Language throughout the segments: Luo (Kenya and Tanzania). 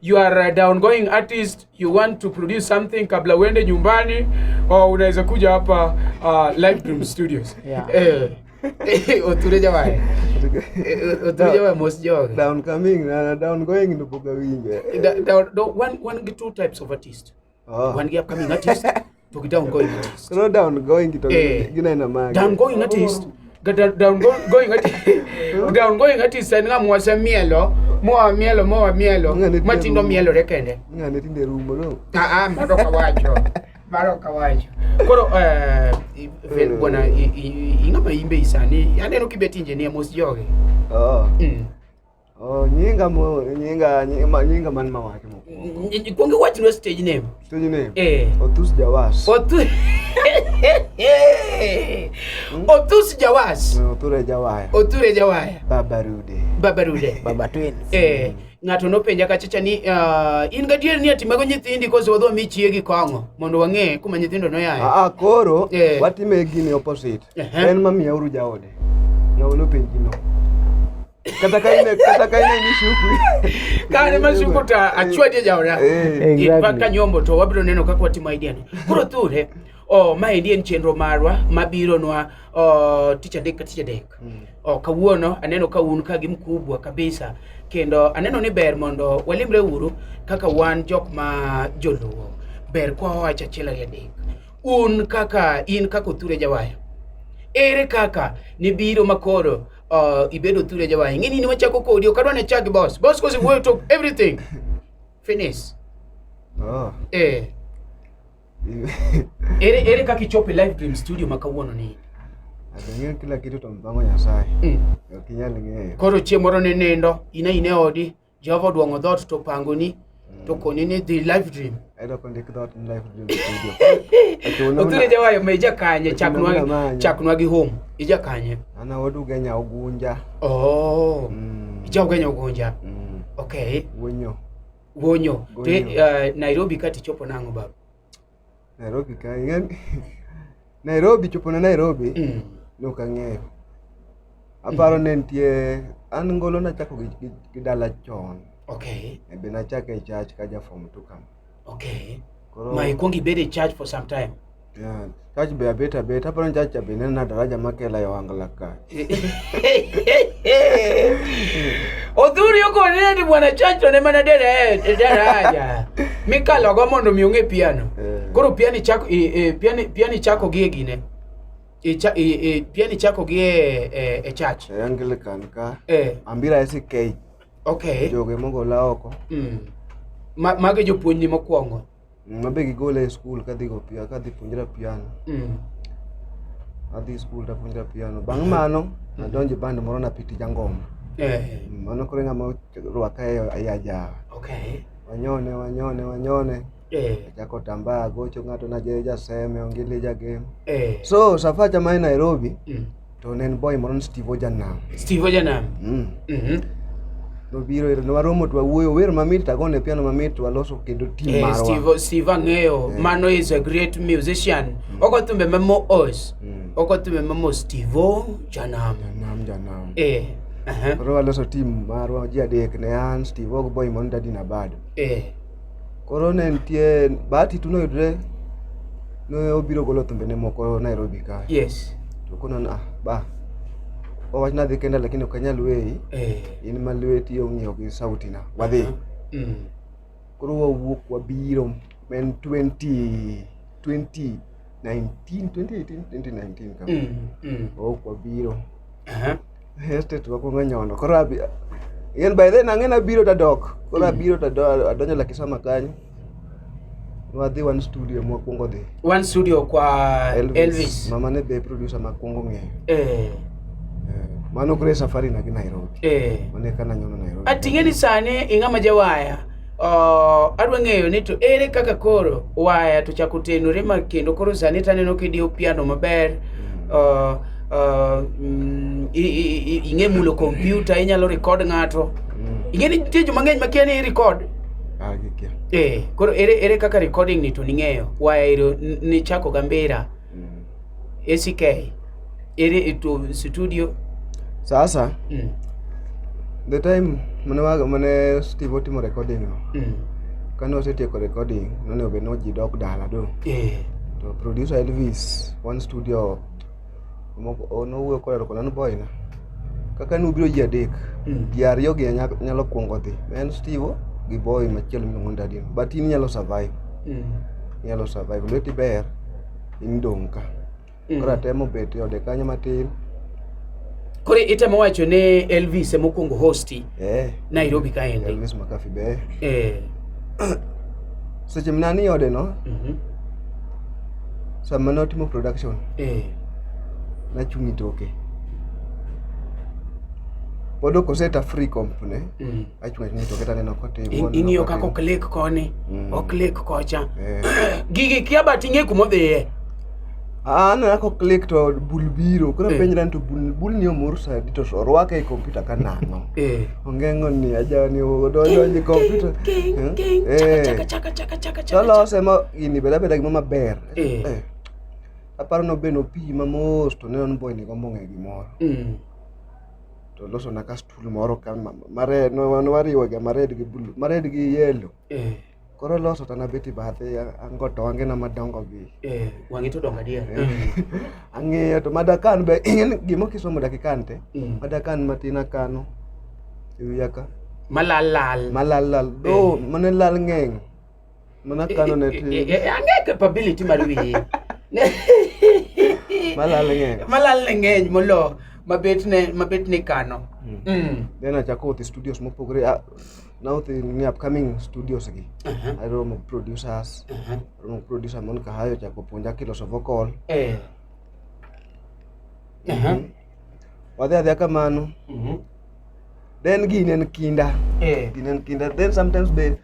you are a downgoing artist, you want to produce something kabla uende nyumbani, or unaweza kuja hapa uh, Live Dream Studios. Yeah. Eh. eh Oture jamani. Eh, Oture jamani most joke. Downcoming na downgoing ndo boga winge. Down, down, one, one, two types of artist. Oh. One year upcoming artist. Toki down going artist. No down going to eh. gina ina maana. Down going artist. Gata down going artist. Down going artist nga mwasa mielo. Moa mielo moa mielo. Matindo mielo rekende. Nga netinde rumbo no. Ah ah madoka wacho. Baro kawacho. Koro eh ven mm. bwana ingama imbe isani. Yaneno kibeti engineer mos joge. Oh. Mm. Oh, nyinga mo nyinga nyinga, nyinga man mawake mo. Kuonge wach no stage name. Stage name. Eh. Otus Jawas. Otus. Hmm? Otus Jawas. No, Oture Jawaya. Oture Jawaya. Baba Rude. Baba Rude. Baba Twins. Eh. Ng'ato nopenja kachacha ni uh, in gadier ni ati mago nyithindi koso wadwa mi chiegi kong'o mondo wang'e kuma nyithindo noyaye. Ah, ah koro eh. watime gini opposite. Uh -huh. En mamiya uru jaode. Ng'awo nopenji no. kata ka ine kata ka ine mishuku kane mashuku ta achwa je jaora eh. eh, paka nyombo to wabiro neno kaka watimo idea ni koro thule o ma endi en chenro marwa mabiro nwa o ticha dek ticha dek mm. o kawuono aneno ka un ka gi mkubwa kabisa kendo aneno ni ber mondo walimre uru kaka wan jok ma joluo ber kwa wacha achiel ariyo adek un kaka in kaka othure jawaya ere kaka nibiro makoro uh, ibedo thule jawa ing'e ni wachako kodi ok adwa ne chak gi boss boss kosi wuoyo to everything finish oh. eh ere ere kaka ichopo live dream studio ma kawuono ni Ateng'eyo kila kitu to mpango Nyasaye. Mm. Okinyal ng'eyo. Koro chieng' moro ne nindo, ine ine odi, Jehova odwong'o dhoot to opangoni mm. to koni ni dhi live dream. Ayudo kondik dhoot ni live dream studio. Othuri jawayo me jakanye chaknwa chaknwa gi home. Ija kanye? Ana oduga nya ogunja. Oh. Mm. Ija ogunja ogunja. Mm. Okay. Wonyo. Wonyo. Te, uh, Nairobi kati chopo nang'o baba? Nairobi ka ing'eyo Nairobi chopo na Nairobi mm. ne ok ang'eyo aparo ne nitie an ngolo nachako gi, gi, gi dala chon okay e be nachako e church ka ja form two kam okay koro ma ikwong ibed e church for some time yeah Church be abet abet, hapa ni church ya Benene na daraja makela ya wangalaka. Odhuri yuko nini bwana church ne mana dere daraja. Mikalo go mondo mi ong'e piano. Eh. Koro piani chako e, e, piani piani chako gi gine. E, cha, e, e, piani chako gi e, e, e church. E Anglican ka. Eh. Ambira SK. Okay. Joge mogo la oko. Mm. Ma, mage jopuonjni mokwongo. Mabe gigole e skul kadhi go pia kadhi puonjra piano. Mm. Adhi skul ta puonjra piano. Bang' mano mm. adonjo band moro na piti jangoma. Eh. Mm, mano kore ng'ama rwaka e ayaja. Okay. Wanyone wanyone wanyone. Eh. Chako tamba gocho ng'ato na je jaseme ongili jagem. Eh. So safacha mai Nairobi. Mm. to ne en boy moro ni Steve Ojanam. Steve Ojanam. Mm. Mhm. Nobiro ero newaromo to wawuoyo wer mamit tagone piano mamit to waloso kendo team Eh, marwa. Steve Steve ang'eyo Eh. mano is a great musician. Oko thumbe ma moos. Mm. Oko thumbe ma moos Steve Ojanam. Janam janam. Eh. Aha. Koro waloso team marwa ji adek ne an Steve Og boy moro Daddy Nabado. Eh. Koro ne nitie Bahati tu noyudre ne obiro golo thumbene moko Nairobi ka. Yes. To kono na ah, ba owach nadhi kenda lakini ok anyal weyi eh. in ma lweti ong'iyo gi sauti na wadhi uh -huh. mm. koro wawuok wabiro men 20 20 19 2018 2019 kama mm. mm. wawuok wabiro uh -huh. Hestet wakwongo nyono. Koro abi Yen by then ang'e nabiro tadok. Koro hmm. abiro tadok adonjo la kisama kanyo. Wadhi one studio mwakwongo dhi. One studio kwa Elvis. Elvis. Mama ne be producer makwongo ng'eyo. Eh. Mano kure safari na gi Nairobi. Eh. Mane kana nyono Nairobi. Ating'e ni sane ing'ama jawaya. Uh, adwa ng'eyo ni to ere kaka koro waya to chako tenore ma kendo koro sani taneno kidiyo piano maber mm. uh, uh, mm, ing'e mulo kompyuta inyalo rekod ng'ato mm. ing'e ni nitie joma ng'eny makia ni irekod ah, eh, koro ere, ere kaka recording ni to ning'eyo waya ero nichako gambera mm. SK iri itu studio sasa mm. the time mane wa mane Steve otimo recording no mm. kane osetieko recording none obe no ji dok dala do eh. to producer Elvis one studio nowuoyo koda to konano boy na kaka nubiro ji adek mm. ji ariyo gi nyalo kwongo dhi en Steve gi boy machielo miluongo ni Dadino but in nyalo survive mm. nyalo survive lweti ber in dong' ka Mm. koro atemo bet e ode kanyo matin Koro itemo wacho ne Elvis ema okuongo hosti eh Nairobi kaendi. Elvis Makafi be Eh. seche mna ni ode no mhm, sama notimo production Eh. nachung' e toke pod ok oseta free comp ne Mm. ing'iyo kaka oklik koni mm. oklik kocha eh. gigi kia but ing'e kumodhiye aneno kaka oklik to bul biro koro eh. penjra ni to bul ni omor sadi to orwake e kompyuta ka nang'o eh. onge ng'oni ajani odonjonje kompyuta tolose ma gini beda beda gima maber aparo nobeno pi mamos to neno ni boy ni gombo ng'e gimoro mm. to losona ka stool moro ka mared wariwoga mared gi blue mared gi yellow eh. koro loso to anabet e bathe ango tonge na madongo gi eh, wang'i to dongo adier eh. ang'iyo to madakan be gima kisomo dakikan te mm. madakan matin akano e wiya ka malalal malalal do mm. mane lal ng'eng' Mana kano ne ti. Ang'e capability mar wiye. Malal ng'eny. Malal ng'eny molo mabet ne mabet ne kano. Mm. mm. Then achako uthi studios mopogore ah, na uthi ni upcoming studios gi. Uh -huh. Aromo producers. Uh -huh. Aromo producer mon kahayo chako puonja kiloso vocal. Eh. Uh -huh. Mm. Wadhi adhi kamano. Mhm. Mm then ginen kinda eh. ginen kinda then sometimes be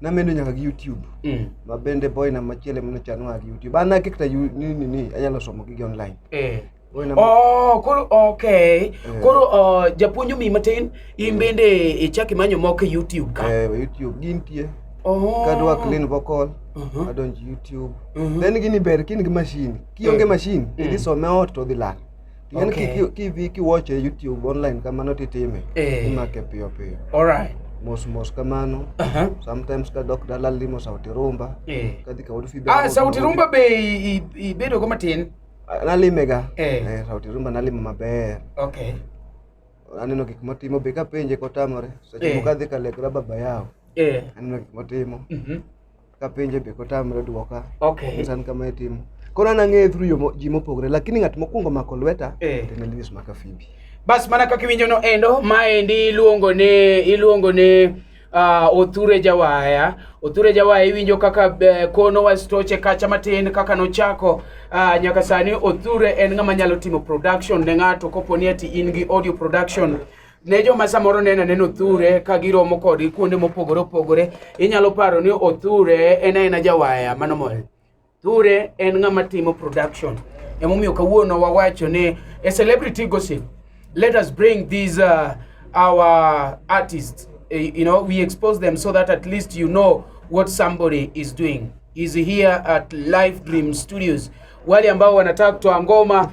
namedo nyaka gi YouTube mm. ma bende boy na machiele mno chano nyaka gi YouTube an nake kata ni ni ni anyalo somo gi online eh Oh, koro okay. Eh. Koro uh, japuonjo mi matin in eh. bende ichak imanyo moko e YouTube ka. Eh, YouTube gintie. Oh. Kadwa clean vocal. Uh mhm. -huh. Adonj YouTube. Uh mhm. -huh. Then gini ber kin gi machine. Kionge eh. machine, mm. idhi some ot to dhi lal. Ng'en Okay. kiki- kidhi kiwacho e YouTube online kamano titime. Eh. Imake piyo piyo. Alright. Mos mos kamano. Aha. Sometimes kadok dala limo sauti rumba. Eh. Kadhi kaod fibe. Ah, sauti rumba be i- i- ibedo go matin. Nalimega. Eh. Eh, sauti rumba nalimo maber. Okay. Aneno gik motimo be kapenje kotamore. Seche Eh. moko adhi kalekra baba yao. Eh. Aneno gik motimo. Mhm. kapenje be kotamre dwoka okay. san kama itimo koro an ang'eye through ji mopogore lakini ng'at mokwongo mako lweta eh. en Elvis Makafimbi bas mana kaka iwinjono endo maendi iluongo ni iluongo ni uh, Othure Jawaya Othure Jawaya iwinjo kaka uh, kono wastoche kacha matin kaka nochako uh, nyaka sani Othure en ng'ama nyalo timo production ne ng'ato koponi ati in gi audio production ne joma samoro nena neno othure ka giromo kodgi kuonde mopogore opogore inyalo paro ni othure en aena jawaya mano mole othure en ng'ama timo production emomiyo kawuono wawacho ni a celebrity gossip let us bring these uh, our artists uh, you know we expose them so that at least you know what somebody is doing is here at live dream studios wale ambao wanataka kutoa ngoma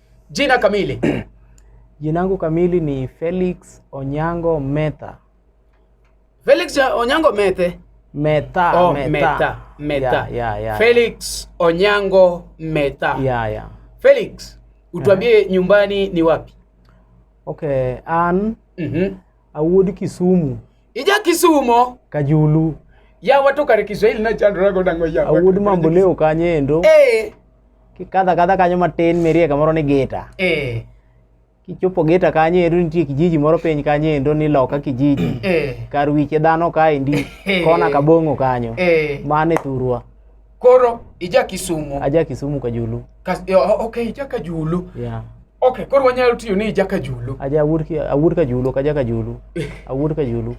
Jina kamili? Jina langu kamili ni Felix Onyango Meta. Felix Onyango Mete. Meta, oh, Meta. Meta. Meta. Yeah, yeah, yeah. Felix Onyango Meta. Yeah, yeah. Felix, utuambie uh -huh. nyumbani ni wapi? Okay, Ann. Mhm. Mm Awuod Kisumu. Ija Kisumo. Kajulu. Ya watu kare Kiswahili na chandra go dango ya. Awuod mambo leo kanye endo. Eh. Kikadha kadha kanyo matin merie kamoro ni geta. Eh. Kichopo geta kanye endo nitie kijiji moro piny kanye endo ni loka kijiji. Eh. Kar wiche dhano kae ndi. Eh. Kona kabongo kanyo. Eh. Mane thurwa. Koro ija Kisumu. Aja Kisumu Kajulu. Kas, yo, o- okay, ija Kajulu. Yeah. Okay, koro wanyalo tiyo ni ija Kajulu. Aja awuod ki- awuod Kajulu, ok aja Kajulu. Awuod Kajulu.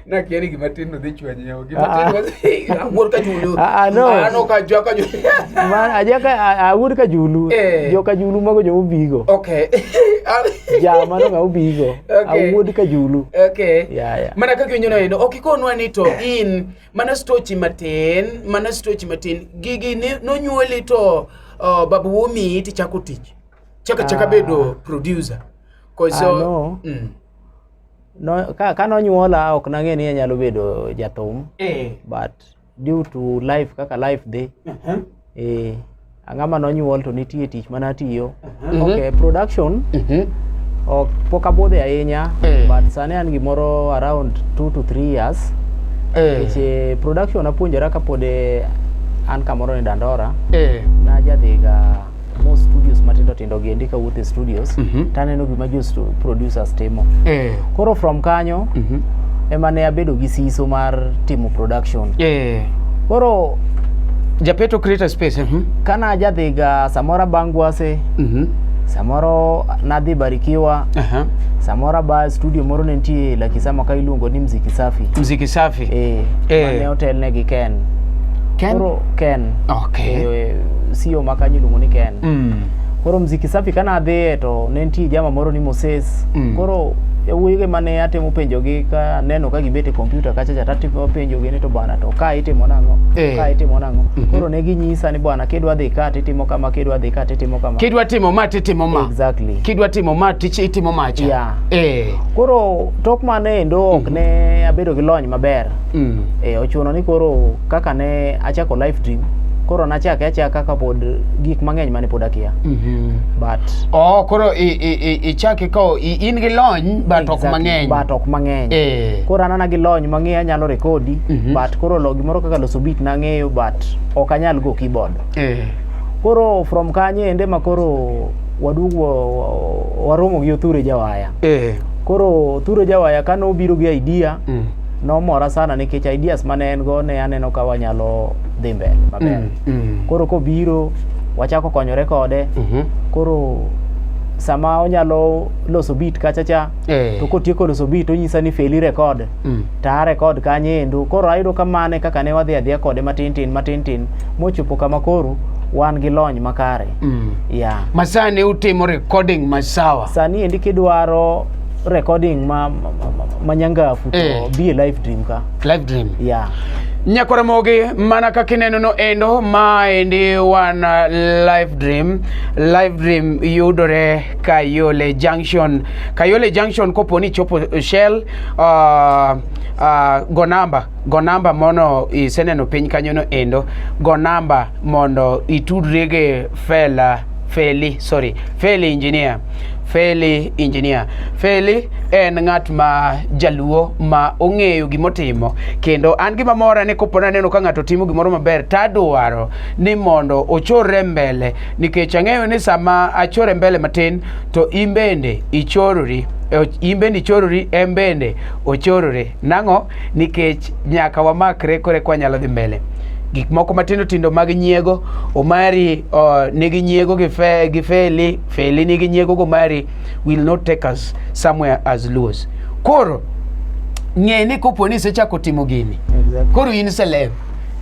Nakiani gima tin no dhi chwanyo yawa. Gima Ah. tin no dhi- awuod Kajulu. Ah, ah, no. An ok aja Kajulu. Man, aja ka a- awuod Kajulu. Eh. Jo Kajulu mago jo ubigo. Okay. Ja mano ga ubigo. Okay. Awuod Kajulu. Okay. Yeah, yeah. Mana kaka winyono endo, ok ikonwa ni to in Mana stochi matin, mana stochi matin. Gigi ni nonyuoli to uh, babu wumi iti chako tich. Chaka chaka ah. bedo producer. Cause ah, uh, no. Mm. No, ka, ka nonyuola ok nang'e ni anyalo bedo jathum. Eh. But due to life kaka life dhi. Uh -huh. eh ang'ama nonyuol to nitie tich mana tiyo mhm. okay production mhm. ok pok abudhe ahinya eh. but sani an gimoro around 2 to 3 years eh. nikech eh, production apuonjora kapod an kamoro ni dandora najadhiga mo studios matindo nindo gi endi kawuotho e studios Mhm. to aneno gima jo stu- producers timo Eh. koro from kanyo Mhm. ema ne abedo gi siso mar timo production Eh. koro Japeto creator space. Mhm. kana ajadhiga samoro abangwase Mhm. samoro nadhi barikiwa Aha. samoro aba studio moro ne nitie lakisama ka iluongo ni mziki safi Mziki safi. eh, Eh. mane otelne gi ken Ken? koro ken Okay. Eh, sio ma kanyo iluongo ni ken Mm. koro mziki safi kana adhiye to ne nitie jama moro ni moses Mm. koro yawuoyige mane atemo penjogi ka neno ka gibet e kompyuta kacha cha tatimo penjogi ni to bwana to ka itimo nang'o Eh. ka itimo nang'o Mhm. koro ne ginyisa ni bwana kidwa dhi ka titimo kama kidwa dhi ka titimo kama kidwa timo ma titimo ma exactly kidwa timo ma tich itimo macha Yeah. eh koro tok mano endo ok ne abedo gi lony maber Mm. E, ochuno ni koro kaka ne achako live stream koro nachake achaka ka pod gik mang'eny mane pod akia mm -hmm. but oh, koro ichake ka in gi lony but exactly, ok mang'eny but ok mang'eny eh. koro anana gi lony mang'eyo anyalo rekodi mm -hmm. but koro lo gimoro kaka loso beat nang'eyo but ok anyal go keyboard eh. koro from kanye ende ma koro waduogo waromo gi othure jawaya eh. koro othure jawaya kane obiro gi idea mm. nomora sana nikech ideas mane en go ne aneno ka wanyalo dhi mbele maber mm, mm. koro kobiro wachako konyore kode mm -hmm. koro sama onyalo loso beat kacha cha eh. to kotieko loso beat onyisa ni feli record mm. to a record kanye endo koro ayudo kamane kaka ne wadhi adhiya kode matin tin matin tin mochopo kama koro wan gi lony makare mm. yeah. masani utimo recording masawa sani endi kidwaro recording ma, ma, ma, ma nyangafu to Eh. be a live dream ka live dream yeah nyakore mogi mana kaka ineno no endo maendi wan uh, live dream live dream yudore kayole junction kayole junction kopo ni chopo shell uh, uh, go namba go namba mono iseneno piny kanyono endo go namba mondo itudri gi fela Feli, sorry, Feli engineer. Feli engineer. Feli en ng'at ma jaluo ma ong'eyo gimotimo kendo an gima mora ni kopo naneno ka ng'ato timo gimoro maber tadwaro ni mondo ochorre mbele nikech ang'eyo ni sama achore mbele matin to in bende ichorori in bende ichorori en bende ochorore Nang'o? Nikech nyaka wamakre kore kwa nyalo dhi mbele. Gik moko matindo tindo mag nyiego, Omari uh, nigi nyiego gi, fe, gi Feli, Feli nigi nyiego gi Omari will not take us somewhere as Luos. Koro ng'e ni kopo ni isechako timo gini, exactly. koro in celeb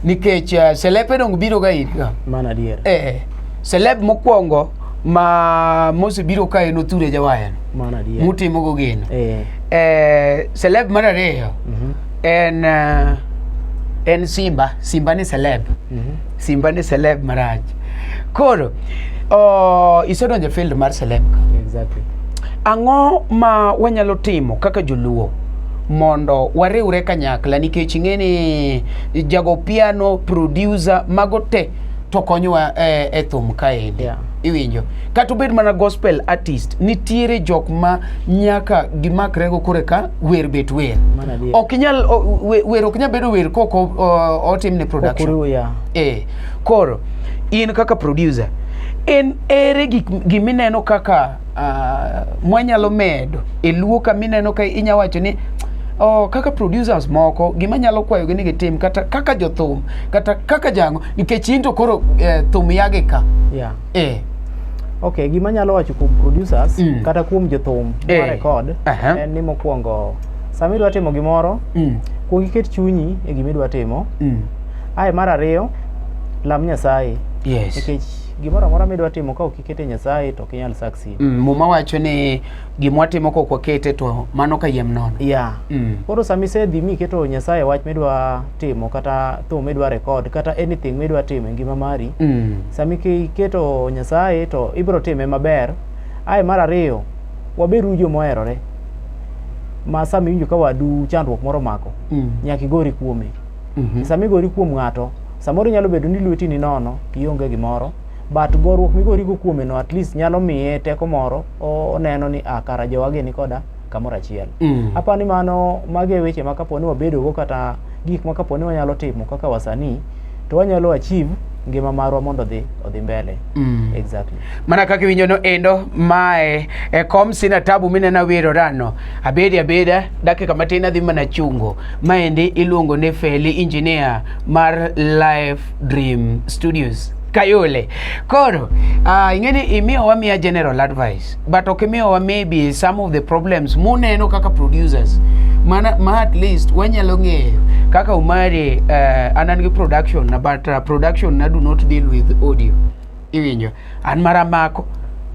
nikech uh, celeb edong biro ga irga. Mana dier. Eh, celeb mokwongo ma Mose biro ka en othure jawayano Mano adier. mutimo go geno Eh. eh, celeb mar ariyo Mhm. en eh, en simba simba ni celeb Mhm. simba ni celeb marach koro oh, isedonjo e field mar celeb Exactly. ang'o ma wanyalo timo kaka joluo mondo wariwre kanyakla nikech ing'e ni jago piano producer mago te to konyowa e, e thum kaendi yeah. iwinjo kata obed mana gospel artist nitiere jok ma nyaka gimakrego kore ka wer bet wer ok inyal wer ok nyal bedo wer kok otimne production yeah. e, koro in kaka producer en ere gik gimineno kaka uh, mwanyalo medo e luo ka mineno ka inya wacho ni Oh, kaka producers moko gima nyalo kwayogi ni gitim kata kaka jothum kata kaka jango nikech in to koro eh, thum yagi ka yeah. eh. okay gima nyalo wacho kuom producers mm. kata kuom jothum eh. record uh -huh. en ni mokwongo sama idwa timo gimoro mm. kuong iket chunyi e gima idwa timo mm. ae mar ariyo lam nyasaye yes. nikech gimoro amora midwa timo ka kikete Nyasaye to ok inyal succeed. Mm, muma wacho ni gima watimo kok wakete to mano ka yiem nono. Yeah. Mm. Koro sama isedhi mi iketo Nyasaye wach midwa timo kata thum midwa record kata anything midwa timo e ngima mari. Mm. Sama ike- iketo Nyasaye to ibiro time maber. Ae mar ariyo, waberu jo moherore. Ma sama iwinjo ka wadu chandruok moro mako, Mm. nyaka igori kuome. Mhm. Sama igori kuom ng'ato, samoro nyalo bedo ni lweti ni nono, ionge gimoro, but goruok migorigo kuomeno at least nyalo miye teko moro oneno ni ah, kara jowage ni koda kamoro achiel mm. apani mano mage e weche ma kapo ni wabedogo kata gik ma kapo ni wanyalo timo kaka wasanii to wanyalo achieve ngima marwa mondo odhi odhi mbele mm. exactly mana kaka iwinjo no endo mae e kom sina tabu minena wiro rano abedi abeda dakika matin adhi mana chungo maendi iluongo ni feli engineer mar life Dream Studios. Kayole. Koro, uh, ingeni imiyo wamiya general advice, but ok imiyo wa maybe some of the problems muneno kaka producers. Mana, ma at least wanyalo ng'eyo kaka umari uh, anan gi production but uh, production na do not deal with audio. iwinjo an mara mako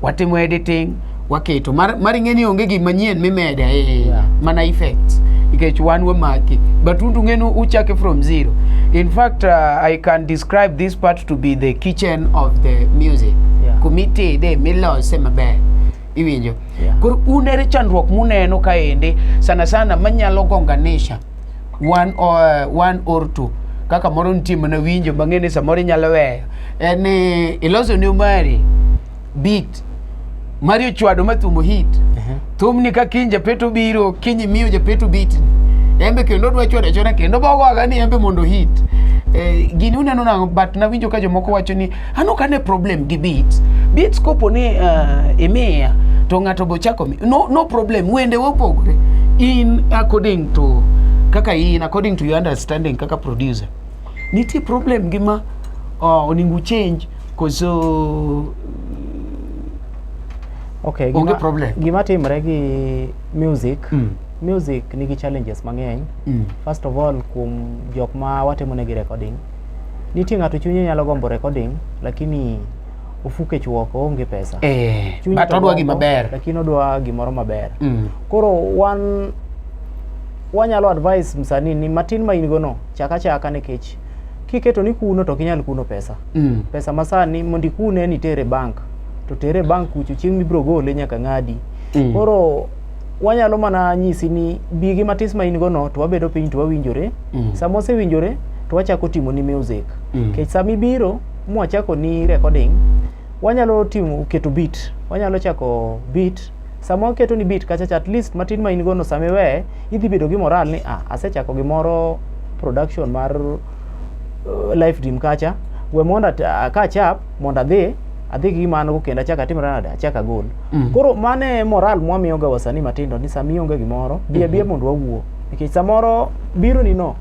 watimo editing waketo mar mar ing'e ni onge gima manyien mimede eh, Yeah. mana effects nikech wan wamaki but un tung'e ni uchake from zero in fact uh, i can describe this part to be the kitchen of the music Yeah. kumitede milose maber iwinjo Yeah. koro un ere chandruok muneno kaende sana sana manyalo gonganisha one or, one or two kaka moro nitie mana winjo mang'e ni samoro inyalo weyo en ni iloso ni mari beat mari ochwado ma thumo hit thumni ka kiny japeto biro kiny imiyo japeto beat ni embe kendo odwa chwado achwada kendo bogoaga ni embe mondo hit eh, gini uneno nang'o but nawinjo ka jomoko wacho ni An ok ane problem gi beats. Beats kopo ni uh, imiya to ng'ato be ochako mi. No, no problem, wende wopogore. In according to kaka in according to your understanding kaka producer. Nitie problem gi ma uh, oningu change koso okay, gima, onge problem. Gima timre gi music mm. music nigi challenges mang'eny mm. first of all kuom jok ma watimo negi recording Nitie ng'ato chunye nyalo gombo recording lakini ofu kech woko oonge pesa. Eh, Chunye but to odwa gombo, gima ber. Lakini odwa gimoro maber. Mm. Koro wan wanyalo advise msanii ni matin ma in go no chak achaka nikech kiketo ni kuno to ok inyal kuno pesa. Mm. Pesa masani mondo ikune ni tere bank to tere bank kucho chieng' mibiro gole nyaka ng'adi. Mm. Koro wanyalo mana nyisi ni bi gi matis ma in go no to wabedo piny to wawinjore mm. sama osewinjore to wachako timo ni music mm. kech sama ibiro mwachako ni recording wanyalo timo keto beat wanyalo chako beat sama waketo ni beat kacha at least matin ma in go no sama iweye idhi bedo gi moral ni ah asechako gimoro production mar uh, life dream kacha we mondo ka chap mondo adhi adhi gi gima an go kendo achak atim nade achak agol Mm. koro mano e moral mwamiyoga wasanii matindo ni sama ionge gimoro bi abiya mondo wawuo nikech samoro biro ni no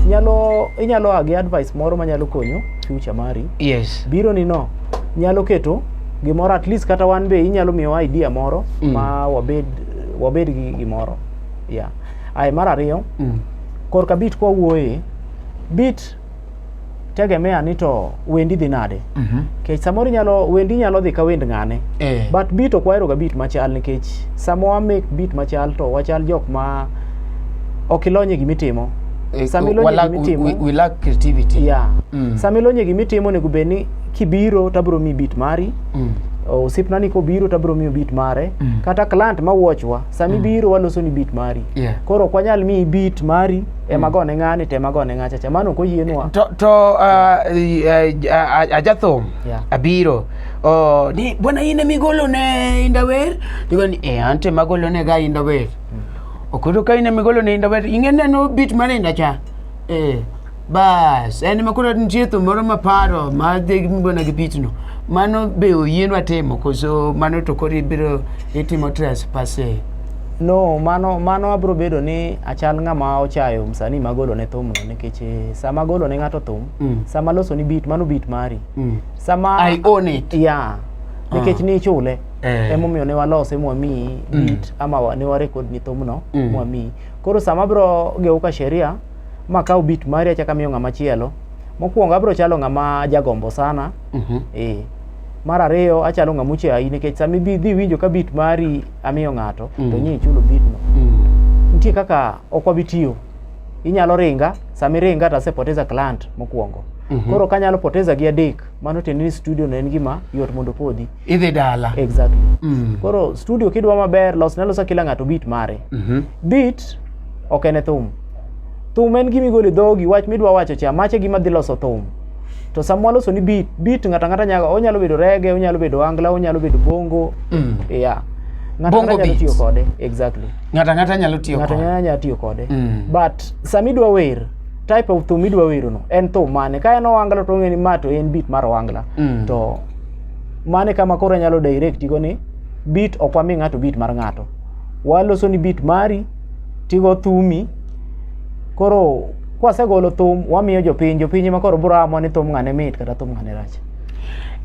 nyalo inyalo a gi advice moro manyalo konyo future mari yes biro ni no nyalo keto gimoro at least kata wan be inyalo miyowa idea moro Mm. ma wabed wabed gi gimoro yeah. aye mar ariyo Mm. korka bit kwawuoye bit tegemea ni to wendi dhi nade mm -hmm. kech samoro nyalo wendi nyalo dhi ka wend ng'ane eh. but beat ok waheroga beat machal nikech sama wa make beat machal to wachal jok ma ok ilonye gimitimo eh, sama ilonye gimitimo we, we lack creativity yeah mm. sama ilonye gimitimo nego bed ni kibiro tabro mi beat mari mm. osipna ni kobiro tabro miyo beat mare mm. kata client ma watchwa sami mm. biro waloso ni beat mari yeah. koro ok wanyal miyi beat mari ema hmm. gone ng'ani to ema gone ng'acha cha mano ok oyienwa to, to uh, uh, ajathum yeah. abiro oh, ni bwana in ema igolone indawer digo ni e an to ema agolone ga indawer mm. ok oyudo ka in ema igolone indawer ing'e neno bit mar inda cha eh, bas en ema koro nitie thum moro maparo madhi bwana gi bitno mano be oyienwa timo koso mano to koro ibiro itimo trespasse No, mano mano abro bedo ni achal ng'ama ochayo msanii magolo ne thumno nikech eh, sama golo ne ng'ato thum, Mm. sama loso ni beat, mano beat mari. Mm. Sama I own it. Yeah. Nikech Ah. ni ichule. Eh. Emomiyo ne walose mwamiyi Mm. beat ama wa- ne warekod ni thumno Mm. mwamiyi. Koro sama abro gewo ka sheria ma kawo beat mari achako amiyo ng'ama chielo, mokwongo abro chalo ng'ama jagombo sana. Mhm. Eh. Mar ariyo achalo ng'ama ochayi nikech sama ibi dhi winjo ka beat mari amiyo ng'ato mm. to nyie chulo bidno mm. nitie kaka ok wabi tiyo inyalo ringa sami ringa to asepoteza client mokwongo mm -hmm. koro kanyalo poteza gi adek mano tiende ni studio no en gima yot mondo podhi idhi dala exactly mm. koro studio kidwa maber los nalosa kila ng'ato bit mare mm -hmm. bit ok en e thum thum en gima igolo e dhogi wach midwa wacho cha mache gima dhi loso thum to samwa loso ni beat beat ngata ngata nyaga onyalo bedo rege onyalo bedo angla onyalo bedo bongo mm. yeah ngata ngata nyalo tiyo kode exactly ngata ngata nyalo tiyo kode ngata nyalo tiyo kode mm. but sami dwa wer type of thum idwa wero no en thum mane ka en owangla to ng'eni ma to en beat mar owangla mm. to mane kama koro nyalo direct go ni beat okwami ng'ato beat mar ng'ato waloso ni beat mari tigo thumi koro kwasegolo thum wamiyo jopiny jopiny ema koro biro amwa ni thum ng'ane mit kata thum ng'ane rach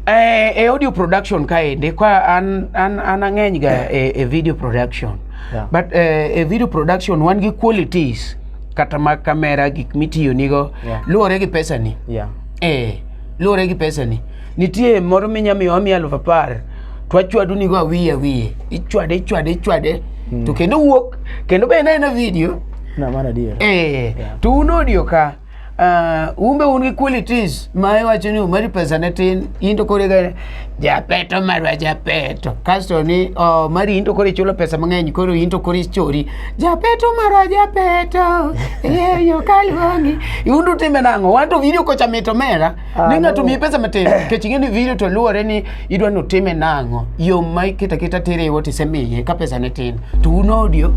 Eh, e audio production kaende kwa an, an, an ang'eny ga e, e video production Yeah. but eh, e video production wan gi qualities kata mag kamera gik mitiyo nigo Yeah. luwore gi pesani yeah. eh, luwore gi pesani Nitie moro minya miyo amiya aluf apar to achwadu nigo awiye awiye ichwade ichwade ichwade mm. to kendo wuok kendo be ena ena video na mara adier eh yeah. to un audio ka uh, umbe un gi qualities ma iwacho ni umari pesa ne tin into kore ga japeto marwa japeto kasto ni oh, mari into kore chulo pesa mang'eny koro into kore chori japeto marwa japeto yeyo kaluongi undu time nang'o wanto video kocha mito mera Ah, Nina no. tumiye pesa matin kech ing'e ni video to luwore ni idwa ni otime nang'o yo ma iketa keta tere wote isemiye ka pesa ne tin to un audio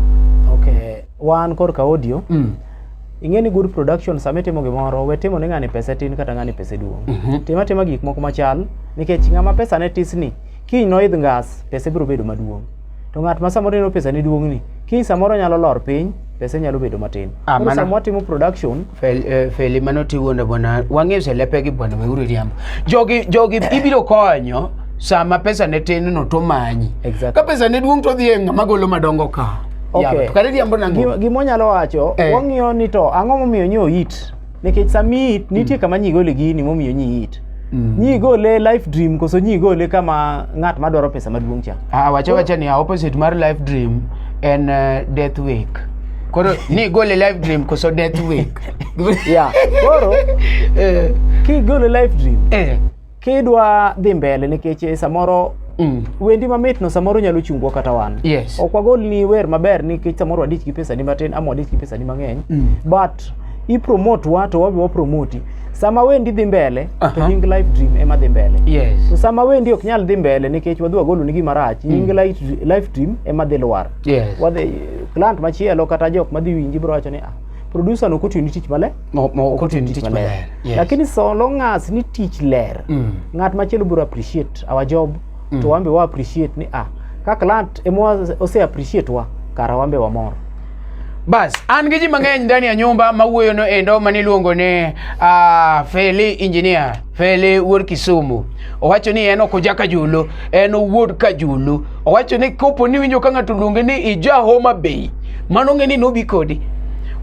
okay wan korka audio mm. ing'e ni good production sama itimo gimoro we timo ni ng'ani pese tin kata ng'ani pese duong Mhm. tim atima gik moko machal nikech ng'ama pesa ne tisni kiny noidh ngas pese biro bedo maduong to ng'at ma samoro neno pesa ni duong'ni kiny samoro nyalo lor piny pesa nyalo bedo matin ah, koro sama watimo production eh, feli uh, mano tiwuonde bwana wang'eyo selepegi bwana weuru riambo jogi jogi ibiro konyo sama pesa ne tin no to manyi exactly. ka pesa ne duong' to dhi e ng'ama golo madongo ka okay. gimonyalo wacho eh. wang'iyo ni to ang'o momiyo nyo it nikech sami it nitie kama nyi gole gini momiyo nyi it Mm. nyi gole life dream koso nyi gole kama ng'at madwaro pesa maduong' cha Ah, wacha wacha ni opposite mar life dream en uh, death wake koro ni gole life dream koso death wake yeah koro eh, kigole life dream eh. kidwa dhi mbele nikech eh, samoro Mm. wendi mamitno samoro nyalo chungwa kata wan Yes. ok wagol ni wer maber nikech samoro wadich gi pesa ni matin ama wadich gi pesa ni mang'eny Mm. but ipromote wa to wabe wapromoti sama wendi dhi mbele to Aha. nying life dream ema dhi mbele to Yes. sama wendi ok nyal dhi mbele nikech wadhi wagolo ni gima rach nying life- life dream ema dhi lwar Yes. wadhi client machielo kata jok madhi winji biro wacho ni ah producer no koti ni tich maler Mo- mo- koti ni tich maler. Yes. lakini so long as ni tich ler Mm. ng'at machielo biro appreciate our job to wambe wa appreciate ni ah ka client emwa ose appreciate wa kara wambe wamor Bas, an gi ji mang'eny ndani ya nyumba mawuoyono endo maniluongo ni uh, Feli Engineer. Fele wuod Kisumu owacho ni en ok oja Kajulo, en owuod Kajulo. Owacho ni kopo ni winjo ka ng'ato luonge ni ija Homa Bay, mano ng'e ni nobi kodi.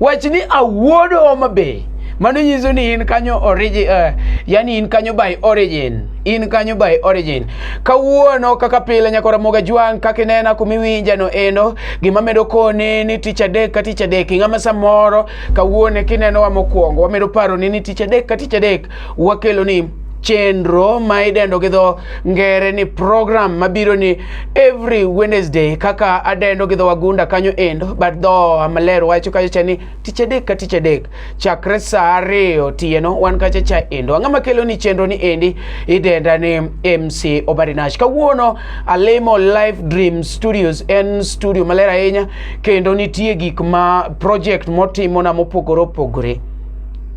Wach ni awuod Homa Bay, mano nyiso ni in kanyo origin, uh, yani in kanyo by origin, in kanyo by origin. Kawuono kaka pile nyako Ramoga Jwang' kaka inena kumiwinja no endo, gima medo koni ni tich adek ka tich adek, ing'ama samoro kawuone kineno wa mokwongo, wamedo paro ni ni tich adek ka tich adek Wakelo ni chenro ma idendo gi dho ngere ni program mabiro ni every Wednesday kaka adendo gi dho wagunda kanyo endo but dho amaler wacho kacha cha ni tich adek ka tich adek chakre saa ariyo otieno wan kacha cha endo ang'a makelo ni chenro ni endi idenda ni MC Obarinash kawuono alimo Live Dream Studios en studio maler ahinya kendo nitie gik ma project motimona mopogore opogore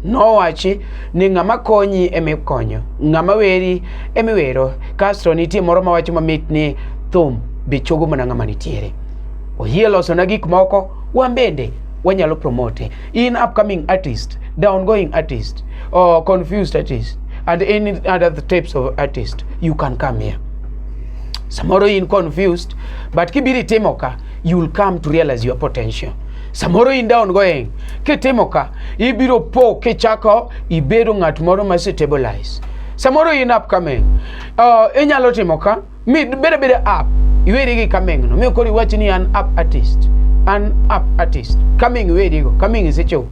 Nowachi ni ng'ama konyi ema ikonyo, ng'ama weri ema iwero. Kasto nitie moro mawacho mamit ni thum be chogo mana ng'ama nitiere. Oyie losona gik moko, wan bende wanyalo promote. In upcoming artist, downgoing artist, or confused artist, and any other types of artist, you can come here. Samoro in confused, but kibiri timo ka, you will come to realize your potential samoro in down going kitimo ka ibiro po kichako ibedo ng'at moro ma stabilize samoro in up coming uh, inyalo timo ka mi bede bede up iweri gi coming no mi koro iwach ni an up artist an up artist coming iweri go coming isechopo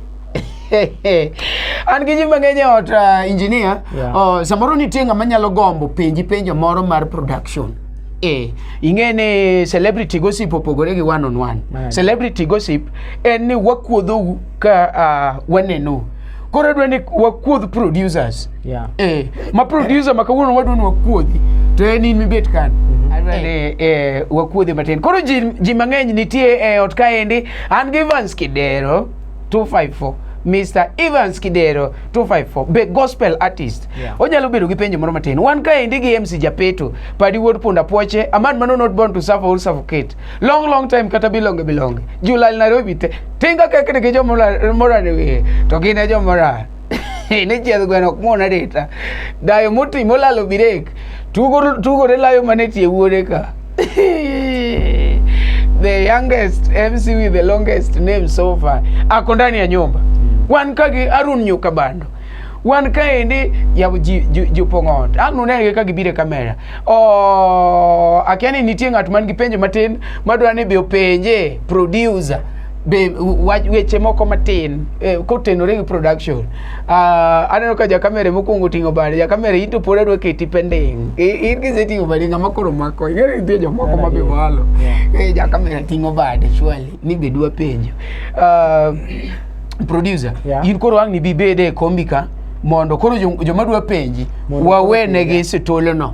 an gi ji mang'eny e ot uh, engineer Yeah. uh, samoro nitie ng'ama nyalo gombo penji penjo moro mar production Eh, ing'e ni celebrity gossip opogore gi one on one Right. celebrity gossip en ni wakuodhou ka uh, wanenou koro dwa ni wakuodh producers Yeah. eh, ma producer ma kawuono wadwa ni wakuodhi to en in mibet kan adwa ni eh, wakuodhi matin koro ji, ji mang'eny nitie e ot kaendi an gi Evans Kidero 254 Mr. Evans Kidero 254 be gospel artist yeah. Onyalo bedo gi penjo moro matin wan kaendi gi MC Japeto padi wuod punda poche a man mano not born to suffer or suffocate long long time kata bilonge bilonge julal Nairobi te tinga kekni gi jomora morane wiye to gin e jomora ne chiedh gweno ok muon arita dayo moti molalo birek tugo ne layo mane tie wuode ka the youngest mc with the longest name so far ako ndani ya nyumba mm. wan ka gi arun nyuka bando wan kaendi jopong'o ot ang' nunenegi ka gibiro e kamera oh, akia ni nitie ng'at man gi penjo matin madwa ni bi openje producer be wach weche moko matin eh, kotenore gi production uh, aneno ka jakamere mokwongo oting'o bade jakamere into pod adwa keti pending in kiseting'o bade ng'ama koro mako ing'eyo nitie jomoko ma be walo eh, jakamere ting'o bade shwali ni be dwa penjo uh, producer yeah. in koro ang' ni bibede e kombi ka mondo koro joma dwa penji wawenegi situlno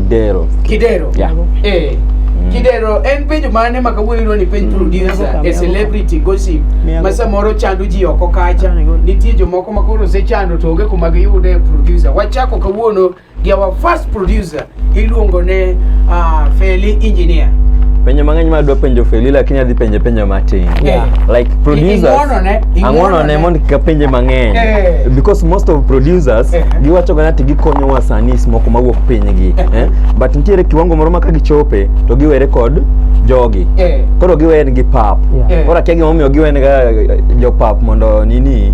Kidero. Kidero. Yeah. Eh. Mm. Kidero en penjo mane ma kawuono iluongo ni penj mm. producer a celebrity gossip ma samoro chando ji oko kacha. Nitie jomoko ma koro osechando to onge kuma giyude producer. Wachako kawuono gi our first producer iluongo ne uh, Feli Engineer. Penjo mang'eny ma adwa penjo Feli lakini adhi penje penjo matin. Yeah. Like producers. Ang'ono ne mondo kik apenje mang'eny. Yeah. Because most of producers yeah. giwacho gana ti gikonyowa sanis moko mawuok pinygi eh? but nitiere kiwango moro ma ka gichope to giwere kod jogi eh. koro giwen gi pap yeah. koro akia gimomiyo giwen ga eh, jopap mondo nini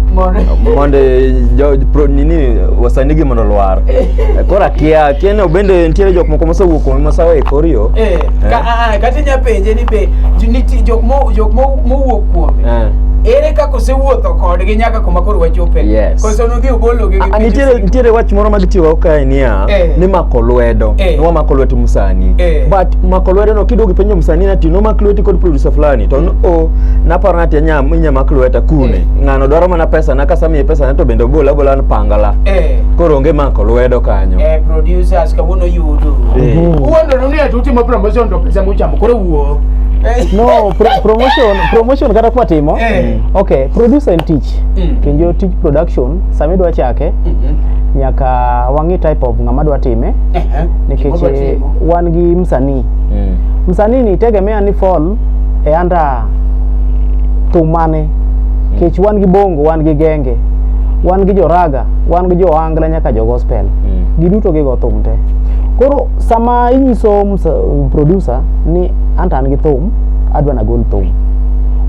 mondo eh, jo, pro, nini wasanigi mondo lwar eh. koro akia akia ni obende nitiere jok moko mosewuok kuome mosawe e kor yo eh. eh. Ka, ah, ah, kata inya penje ni be jok mowuok kuome eh. ere kaka osewuotho kodgi nyaka kuma koro wachope yes. Koso nodhi obologi gi A- nitiere pinyruodh- nitiere wach moro ma gitiyogo kae niya Eh. ni mako lwedo Eh. ni wamako lwet msanii Eh. but mako lwedo no kiduogo ipenjo msanii nati nomak lweti kod producer fulani to n- o naparo nati anya inya mak lweta kune Eh. ng'ano dwaro mana pesa na kasamiye pesa na to bende obola abola pangala Eh, koro onge mako lwedo kanyo eh, producers kawuono yudu. Eh. Mhm. Uwuondoro ni ati utimo promotion to pesa muchamo koro wuo. Eh. No, pro- promotion, promotion kata kwa timo. Eh. Okay, producer and teach. tich mm. to njo tij production sama idwa chake mm -hmm. nyaka wang'i type of ng'ama dwa time uh -huh. nikech eh, wan gi msanii mm. msanii ni tegemea ni fall e anda thum mane mm. kech wan gi bongo wan gi genge wan gi joraga wan gi joangla nyaka jo gospel mm. giduto gigo thum te koro sama inyiso producer ni anta an gi thum adwa nagol thum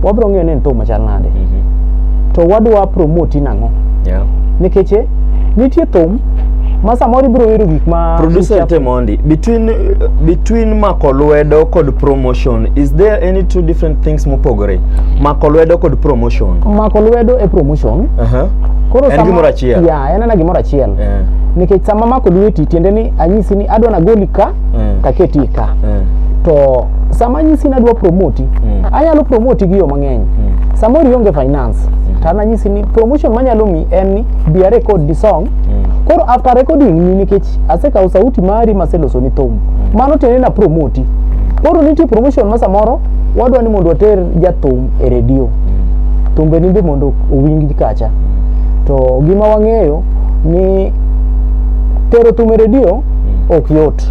wabro ng'eyo ni en thum chal nade to wadwa promote nang'o Yeah. nikech eh, nitie thum ma samoro ibiro wero gik ma Producer Temondi, between uh, between mako lwedo kod promotion, is there any two different things mopogore? Mako lwedo kod promotion. mako lwedo e promotion Aha. koro En sama- gimoro achiel. ya en ana gimoro achiel Eh. nikech sama mako lweti tiende ni anyisi ni adwa nagoli ka Mm. taketi ka Mm. to sama anyisi ni adwa promote mm. anyalo promote gi yo mang'eny mm. samoro ionge finance mm. tana nyisi ni promotion manyalo mi en ni be a record the song mm. koro after recording ni nikech asekawo sauti mari maseloso ni thum mm. mano tiende na promoti koro nitie promotion ma samoro wadwa ni mondo water jathum e redio mm. thumbe ni be mondo owinj kacha mm. to gima wang'eyo ni tero thum e redio mm. ok yot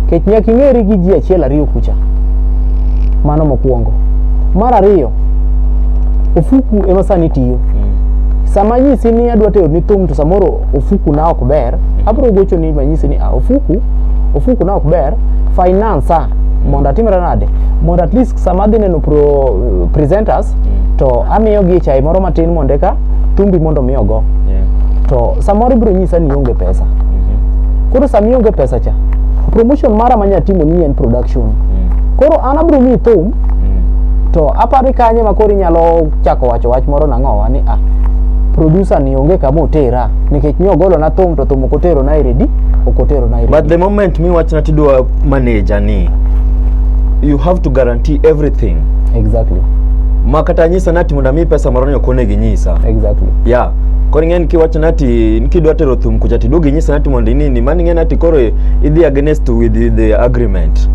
kech nyaka ing'eri gi ji achiel ariyo kucha Mano mokwongo. Mar ariyo, ofuku ema sani tiyo. Sama anyisi ni adwa tero ni thum to samoro ofuku na ok ber, abiro gocho ni manyisi ni ah, ofuku ofuku na ok ber, finance ah, mondo atimre nade? Mondo at least sama adhi neno pro, presenters to amiyogi chai moro matin mondo eka tumbi mondo mi ogo Yeah. to samoro ibiro nyisa ni ionge pesa Mhm. koro sama ionge pesa cha promotion mara manya timo ni en production Mm. koro an abiro miyi thum Mm. to apari kanye ma koro inyalo chako wacho wach moro nang'owa ni ah producer ni onge kama otera nikech ni ogolo na thum to thum ok otero na iredi ok otero na iredi But the moment mi wachna tidwa manager ni you have to guarantee everything exactly ma kata nyisa nati mondo mi pesa moro ni okone gi nyisa exactly yeah koro ing'eni kiwacho nati kidwa tero thum kucha ti duogi nyisa nati mondo inini mani ing'eni ati koro idhi against with the agreement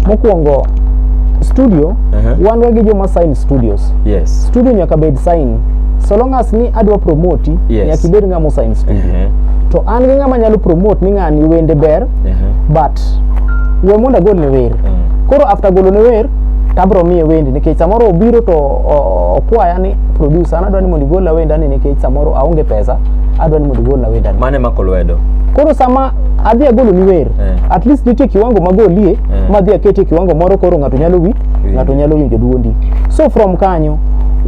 mokwongo studio uh -huh. wan ga gi joma sign studios yes studio nyaka bed sign so long as ni adwa promote yes. nyaka ibed ng'ama osign studio uh -huh. to an gi ng'ama nyalo promote ni ng'ani wende ber uh -huh. but we mondo agol ne wer uh -huh. koro after golo ne wer tabro miye wendi nikech samoro obiro to okwaya ni producer anadwa ni mondo igolna wendani nikech samoro aonge pesa adwa ni mondo igolna wendani mane mako lwedo koro sama adhi agolo ni wer eh. at least nitie kiwango magolie eh. madhi aketie kiwango moro koro ng'ato nyalo wi ng'ato nyalo winjo duondi so from kanyo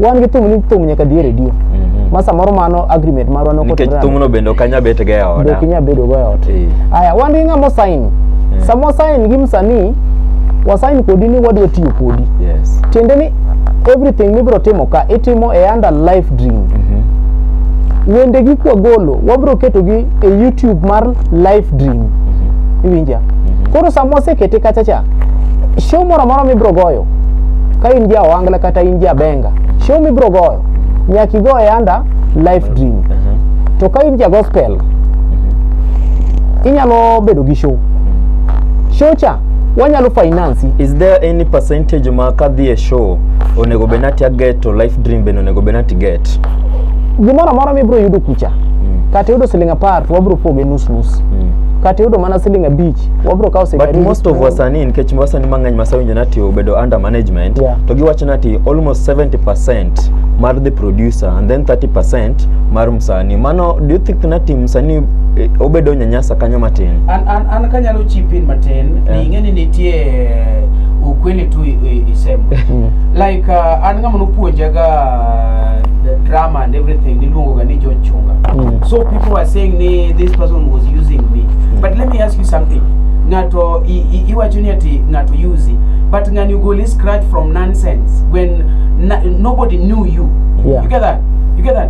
wan gi thum ni thum nyaka dhi e redio mm -hmm. ma samoro mano agreement marwa nokonikech thumno bende ok anya bet ga e oda ok inya bedo go e ot eh. aya wan gi ng'ama osain eh. sama osain gi msanii wasain kodi ni wadwa tiyo kodi yes. tiende ni everything mibiro timo ka itimo e under life dream mm -hmm. wende gi kwa golo wabiro keto gi e youtube mar life dream mm -hmm. iwinja mm -hmm. koro sama wasekete kacha cha show moro moro mibiro goyo ka in ja wangla kata in ja benga show mibiro goyo nyaki go e under life dream mm -hmm. to ka in ja gospel mm -hmm. inyalo bedo gi show show cha wanyalo finance is there any percentage ma kadhi e show onego bed nati aget to life dream bende onego bed nati get gimoro amora mibro yudo kucha mm. kata yudo siling apar to wabro poge nus nus mm. kata yudo mana siling abich wabro kawo siling but most of wasanii nikech wasanii mang'eny masewinjo nati obedo under management yeah. to giwacho nati almost 70 percent mar the producer and then 30 percent mar sani mano do you think na team sani eh, obedo nyanyasa kanyo matin an an an kanyalo chip in matin yeah. ni ing'eni nitie eh, ukweli tu isemo like uh, an ng'ama nopuonjaga the drama and everything niluongo ga ni John Chunga mm. so people are saying ni this person was using me mm. but let me ask you something ng'ato iwacho ni ati ng'ato use but ng'ani ugole scratch from nonsense when na, nobody knew you yeah. you get that you get that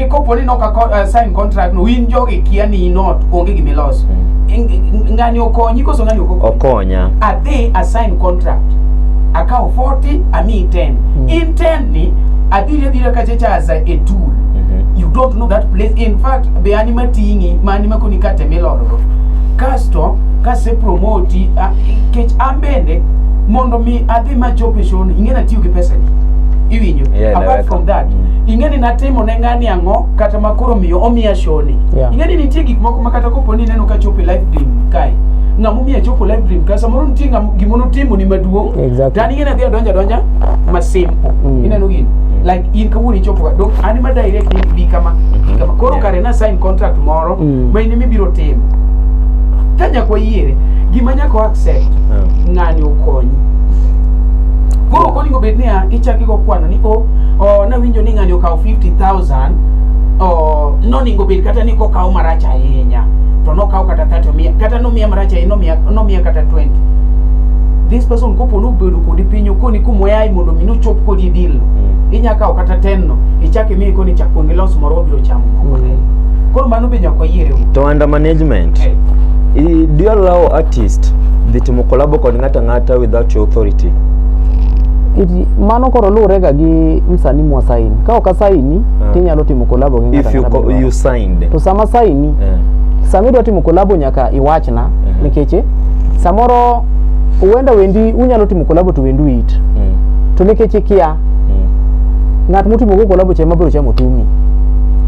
Kopo ni noka ko, uh, sign contract no win jogi kia ni not onge gimi loss. Mm. Ngani okonyi koso ngani okonyi. Okonya. A day a sign contract. Akao 40 a me 10. Mm. In 10 ni adire dire kache cha as a tool. Mm -hmm. You don't know that place. In fact, be anima tingi, ma anima kuni kate miloro. Kasto, kase promote, uh, kech ambende, mondo mi adhi ma chope shono, ingena tiyo ki pesa ni. Iwinyo. Yeah, apart from that mm. ing'eni natimo ne ng'ani ang'o kata ma koro miyo omiya shoni yeah. ing'eni nitie gik moko ma kata kopo ni ineno ka chopo e life dream kae ng'ama omiya chopo life dream kae samoro nitie gima notimo ni maduong' exactly. tani ing'eni adhi adonja donja masim mm. ineno gini like in kawuono ichopo dok an ma direct ni bi kama mm-hmm. kama koro yeah. kare na sign contract moro mm. ma in mibiro timo ka nyakwa yiere gima nyako accept yeah. ng'ani okonyi koro onego bed niya ichaki go kwano ni o oh, nawinjo ni ng'ani okawo 50000 oh, noningo bed kata ni kokawo marach ahinya to nokawo kata 30 omiya kata nomiya marach ahinya nomiya, nomiya kata 20 this person kopo nobedo kodi piny okoni kumoyayi mondo mi nochop kodi deal mm. inya kawo kata 10 no ichak imiye koni chak kuongi los moro wabiro chamo mm. koro mano be nyaka wayiere to under management hey. Eh. do you allow artist dhi timo collabo kod ng'ato ang'ata without your authority. Iti, mano koro luwore ga gi msani mwa saini ka ok asaini uh, tinyalo timo kolabo gi ng'ato ang'ata you, you signed to sama saini uh, eh. sama idwa timo kolabo nyaka iwachna uh eh. -huh. nikech eh, samoro huenda wendi unyalo timo kolabo to wendu it uh mm. -huh. to nikech ikia uh mm. -huh. ng'at mutimo go kolabo chema biro chamo tumi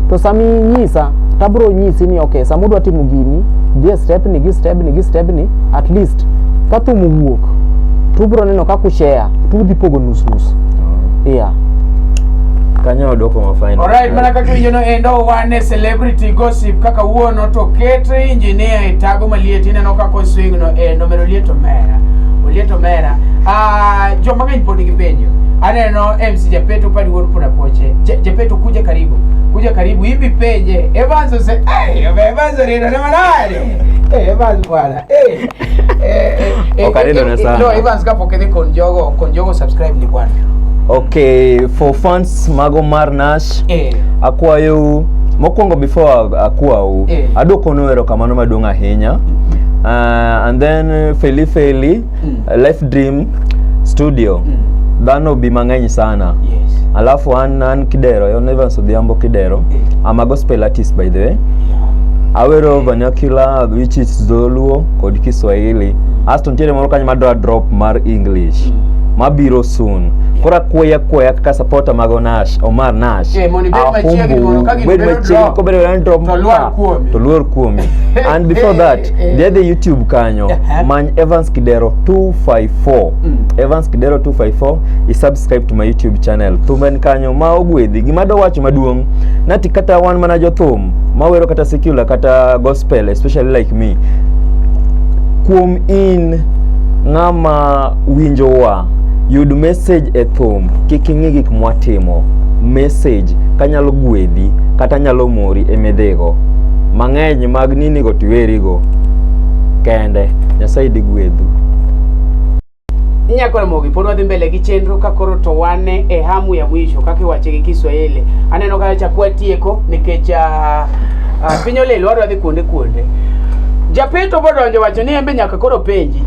to sami nyisa tabro nyisi ni okay sama udwa timo gini dhie step ni gi step ni gi step ni at least Christ. Ka thum owuok to ubiro neno kaka ushare to udhi pogo nus nus. Oh. Yeah. Kanyo odoko ma final. Alright, mana kaka winjo no endo wane celebrity gossip kaka wuono to ket engineer e tago maliet ineno kaka oswing no endo medo liet omera. Oliet omera. Ah, uh, joma ng'eny pod gipenjo. Aneno MC Japeto padi wuod pona poche. Japeto kuja karibu. Kuja karibu hivi penje. Evans ose. Hey, Evans rino na manade. Hey, Evans bwana. Eh, eh, eh, Okarendo na sana. No, Evans kapo kede con Yogo, con Yogo subscribe ni bwana. Okay, for fans mago mar Nash. Eh. Akwayo mokwongo before akwawu. Eh. Adwokono erokamano maduong' ahinya. Uh, and then Feli Feli mm. uh, life dream studio mm. dhano bi mang'eny sana yes. alafu an an kidero yon evans odhiambo kidero mm. i'm a gospel artist by the way yeah. awero mm. vernacular which is dholuo kod kiswahili asto ntiere moro kanyo madwa drop mar english mm. mabiro soon kora kweya kweya kaka supporter mago nash omar nash Eh, mondo ibed machiegni mondo ka gini bed bedo machiegni drop, kobedo drop to luor kuomi. to luor kuomi and before that eh. Dhi dhi YouTube kanyo eh, eh. many Evans Kidero 254 mm. Evans Kidero 254 i subscribe to my YouTube channel thumen kanyo ma ogwedhi gima do wacho maduong' nati kata wan mana jothum mawero kata secular kata gospel especially like me kuom in ng'ama winjowa yud message e thum kik ing'i gik mwatimo message kanyalo gwedhi kata nyalo mori e midhigo mang'eny mag nini go tiweri go kende nyasaye dhi gwedhu nyako ramogi pod wadhi mbele gi chenro ka koro to wan e hamu ya mwisho kaka iwache gi kiswahili aneno ka chakwa tieko nikech ah, ah, piny olil wadwa dhi kuonde kuonde japeto bodonjo wacho ni embe nyaka koro penji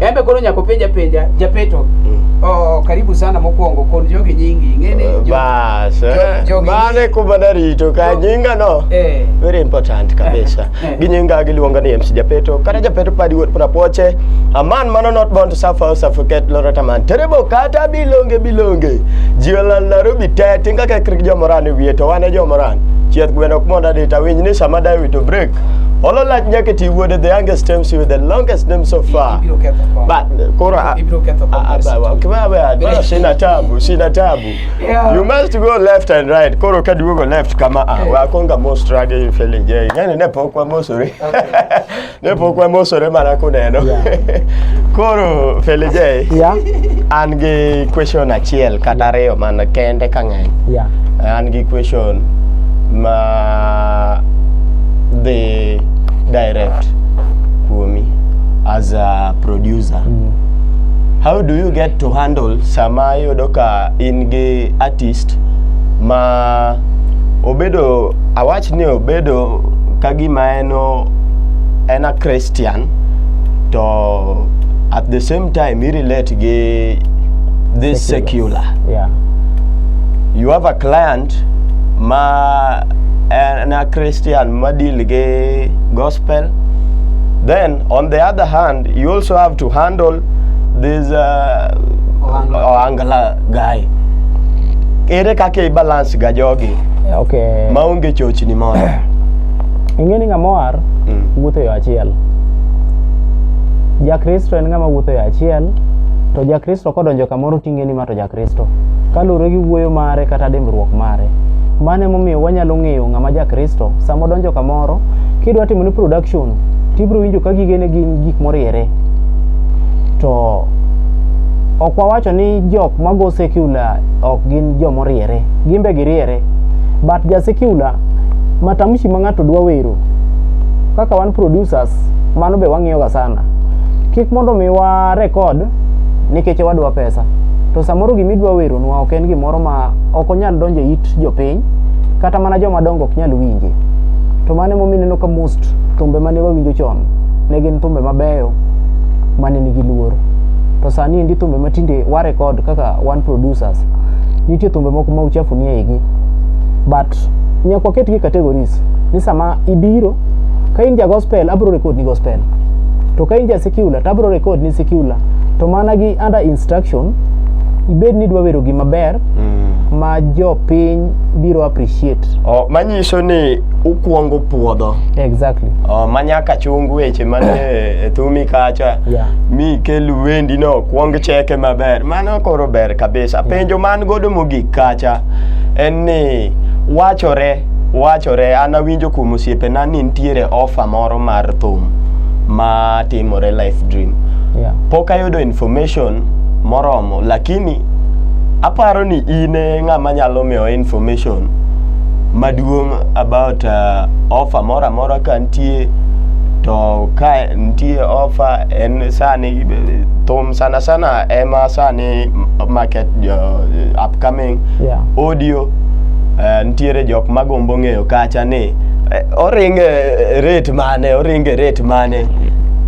embe koro nyaka openja penja japeto oh, karibu sana mokwongo kod jogi nyingi ing'e ni jo- Ba- Yes, eh. Jogi- Mane kuma narito ka nyinga no. Eh. Very important kabisa. Eh. Gi nyinga giluonga ni MC Japeto. Kata Japeto padi wuot prapoche. A man mano not born to suffer or suffocate lorot a man. Terebo kata bilonge bilonge. Jiola Nairobi te tinga ke krik jomoran e wiye to wane jomoran. Chieth gweno ok monda dita winj ni sama dawe to break. Olo lach nyaka ti wuode the youngest MC with the longest name so far. Ibiro ketho kom. But koro a- Ibiro ketho kom. a- a- Kibawe, a- sina tabu, sina tabu. Yeah. You must go left and right. Koro ka duogo left kama ah, wa konga mo struggle in feeling gay. Yani ne pok wa mosore. Ne pok wa mosore mana kuneno. Koro feeling gay. Yeah. An gi question achiel kata ariyo mana kende ka ng'eny. Yeah. An gi question ma the direct kuomi as a producer. How do you get to handle sama yudo ka in gi artist ma obedo awach ni obedo ka gima en en a Christian to at the same time he relate gi this secular, secular. Yeah. you have a client ma en a Christian ma deal gi gospel then on the other hand you also have to handle this za Ohangla. Ohangla guy. Ere kaka i balance ga jogi Eh, Okay. maonge chochni moro? Ing'e ni ng'ama oar Mm. wuotho e yo achiel. Jakristo en ng'ama wuotho e yo achiel, to Jakristo kodonjo kamoro ting'e ni ma to Jakristo. Kristo. Kaluwore gi wuoyo mare kata dimbruok mare. Mano emomiyo wanyalo ng'eyo ng'ama ja Kristo. Sama odonjo kamoro, kidwa timo ni production, tibiro winjo ka gigene gin gik moriere. To ok wawacho ni jok mago secular ok gin jomoriere. Gin be giriere. But ja secular, matamshi ma ng'ato dwa wero, kaka wan producers, mano be wang'iyoga sana. Kik mondo mi wa record nikech wadwa pesa to samoro gima idwa weronwa ok en gimoro ma ok onyal donjo e it jopiny kata mana joma dongo ok nyal winje to mano emomiyo ineno ka most thumbe mane wawinjo chon ne gin thumbe mabeyo mane nigi luor to sani endi thumbe matinde wa record kaka one producers nitie thumbe moko ma uchafu ni eigi but nyaka waketgi e categories ni sama ibiro ka in ja gospel abro record ni gospel to ka in ja secular to abro record ni secular to mana gi under instruction ibed ni dwa wero gima ber mm. ma jopiny biro appreciate oh, manyiso ni ukwongo puodho exactly oh, manyaka chung weche man e thumi kacha yeah. mi kel wendi no kwong cheke maber mano koro ber kabisa yeah. penjo man godo mogik kacha en ni wachore wachore an awinjo kuom osiepena ni nitiere ofa moro mar thum ma timore life dream yeah. pok ayudo information moromo lakini aparo ni in e ng'ama nyalo miyo information maduong' about uh, offer moro amora ka nitie to ka nitie offer en sani thum sana sana ema sani market jo, upcoming Yeah. audio uh, nitiere jok magombo ng'eyo kacha ni eh, oringe rate mane oringe rate mane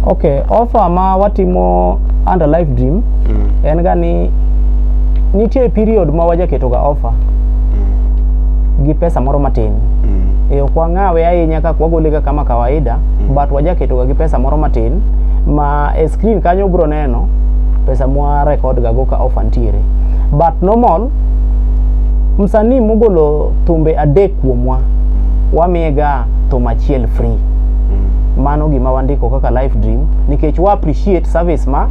Okay, offer ma watimo under live dream mm. en ga ni nitie period ma wajaketo ga offer mm. gi pesa moro matin mm. e ok wang'awe ahinya kaka wagole ga kama kawaida mm. but wajaketo ga gi pesa moro matin ma e screen kanyo bro neno pesa mwa record ga go ka offer ntiere but normal msanii mogolo thumbe adek kuomwa wamiye ga thum achiel free mm. mano gima wandiko kaka life dream nikech wa appreciate service ma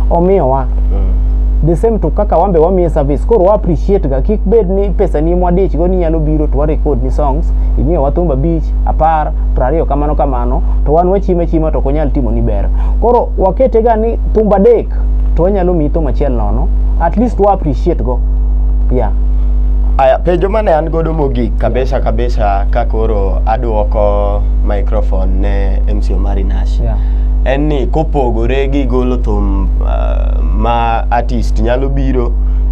omiyowa mm. the same to kaka wambe wamiye service koro wa appreciate ga kik bed ni pesa ni mwadich go ni nyalo biro to wa record ni songs imiyo wa thumba beach apar prariyo kamano kamano to wan wachime chima to konyal timo ni ber koro wakete ga ni thumba dek to wanyalo miyi thum achiel nono at least wa appreciate go yeah aya penjo mane an godo Mogik kabisa kabisa ka koro aduoko microphone ne MC Omari Nash. Yeah. En ni kopogore gi golo thum uh, ma artist nyalo biro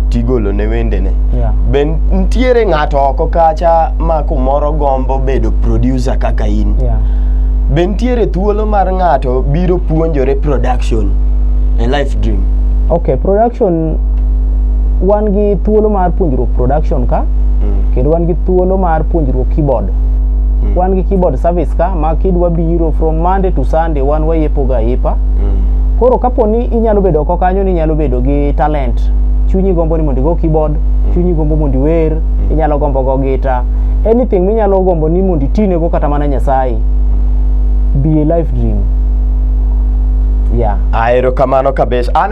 tigolo ne wendene. Yeah. Be ntiere ng'ato oko kacha ma kumoro gombo bedo producer kaka in. Yeah. Be ntiere thuolo mar ng'ato biro puonjore production e life dream. Okay, production wan gi thuolo mar puonjruok production ka mm. kendo wan gi thuolo mar puonjruok keyboard mm. wan gi keyboard service ka ma kidwa biro from monday to sunday wan wayepo ga ipa mm. koro kapo ni inyalo bedo oko kanyo ni inyalo bedo gi talent chunyi gombo ni mondo igo keyboard mm. chunyi gombo mondo iwer mm. inyalo gombo go gita anything minyalo gombo ni mondo itinego kata mana nyasaye be a life dream yeah. aerokamano kabisa an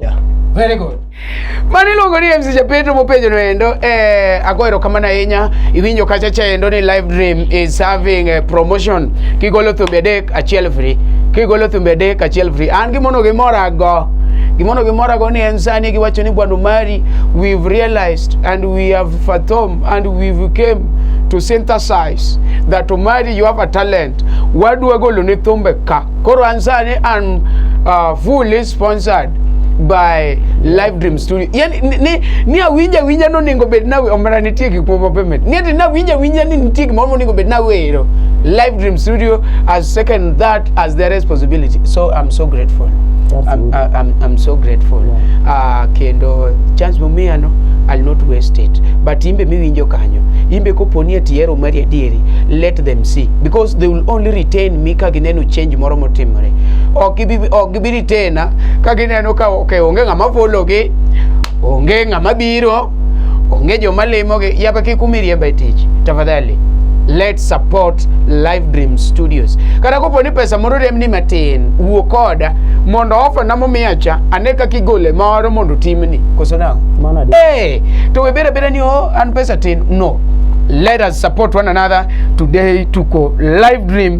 Yeah. Very good. Mano iluongo ni MC Japeto mopenjo no endo eh, ago erokamano ahinya iwinjo kacha cha endo ni live dream is having a promotion kigolo thumbe adek achiel free kigolo thumbe adek achiel free an gimono gimora go gimono gimora go ni en sani giwacho ni bwana Omari we've realized and we have fathom and we've came to synthesize that Omari you have a talent wadwa golo ni thumbe ka koro an sani an uh, full sponsored by live dream studio yani ni, ni, ni awinja winja no ningo bed na omera nitie gik moko payment ni ati na winja winja ni nitie gik moko ningo bed na wero live dream studio as second that as their responsibility so i'm so grateful I'm, I- I'm, I'm so grateful uh, kendo chance momiya no I'll not waste it but imbe miwinjo kanyo imbe koponi ati hero mari adieri let them see because they will only retain me ka gineno change moro motimore ok ibi ok gibiri tena ka gineno ka okay, onge ng'ama fologi onge ng'ama biro onge joma limogi yaba kik umiriemba e tich tafadhali let support live dream studios kata kopo ni pesa moro remni matin wuo koda mondo ofana momiya cha ane kaka igole moro mondo timni koso nang'o Mano adier. hey, to we bere bere ni oh, an pesa tin no let us support one another today tuko live dream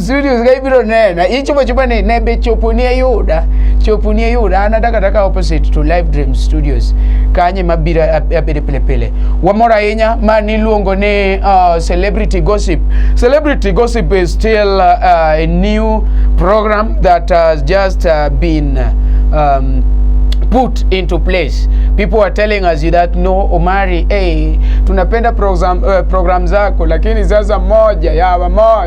studios ka ibiro nena ichopo chopo ni ne be chopo ni ayuda chopo ni ayuda an adaka taka opposite to live dream studios kanye mabiro abede pile pile wamor ahinya ma niluongo ni uh, celebrity gossip celebrity gossip is still uh, uh, a new program that has just uh, been um, put into place. People are telling us that no Omari, hey, tunapenda program, uh, program zako lakini sasa moja ya moja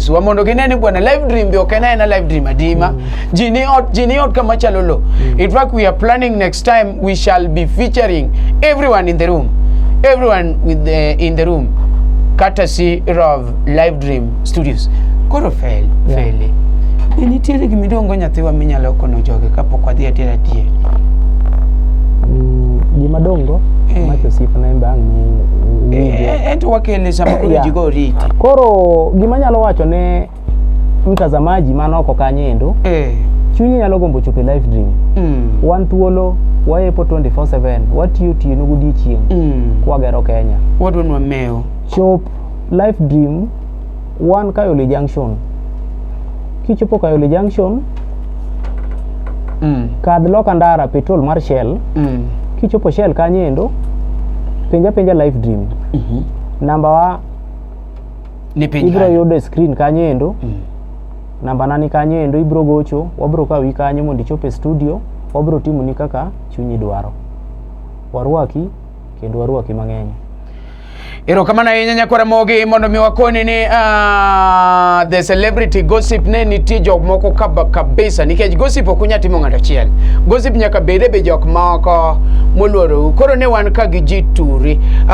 Yesu mondo gine ni bwana live dream be ok en aena live dream adima mm. ji ni ot ji ni ot kama chalo lo mm. in fact we are planning next time we shall be featuring everyone in the room everyone with the, in the room courtesy of live dream studios koro fel yeah. feli ni nitiere gima iluongo nyathiwa minyalo kono joge kapok wadhi adiera adier mm, gima dongo eh. macho sip na embang' eh, eh, eh, ento wakele sama koro jigo ri University. Koro gima nyalo wacho ne mtazamaji man oko kanyo endo, Eh. chunyi nyalo gombo chopo e live dream. Mm. Wan thuolo, wayepo 24/7, watiyo tieno godiechieng' Mm. kwagero Kenya. Wadwa nwa mewo. Chop live dream wan Kayole Junction. Kichopo Kayole Junction, Mm. kadh loka ndara petrol mar Shell, Mm. kichopo Shell kanyo endo, penja penja live dream. Mhm. Namba wa ni piny ibro yudo e screen kanyo endo mm. namba nani kanyo endo ibro gocho wabro kawi kanyo mondo ichop e studio wabro timo ni kaka chunyi dwaro warwaki kendo warwaki mang'eny erokamano ahinya nyakwara mogi mondo mi wakoni ni uh, the celebrity gossip ne nitie jok moko kabisa nikech gossip ok unya timo ng'ato achiel gossip nyaka bede be jok moko moluorou koro ne wan ka gi ji turi uh,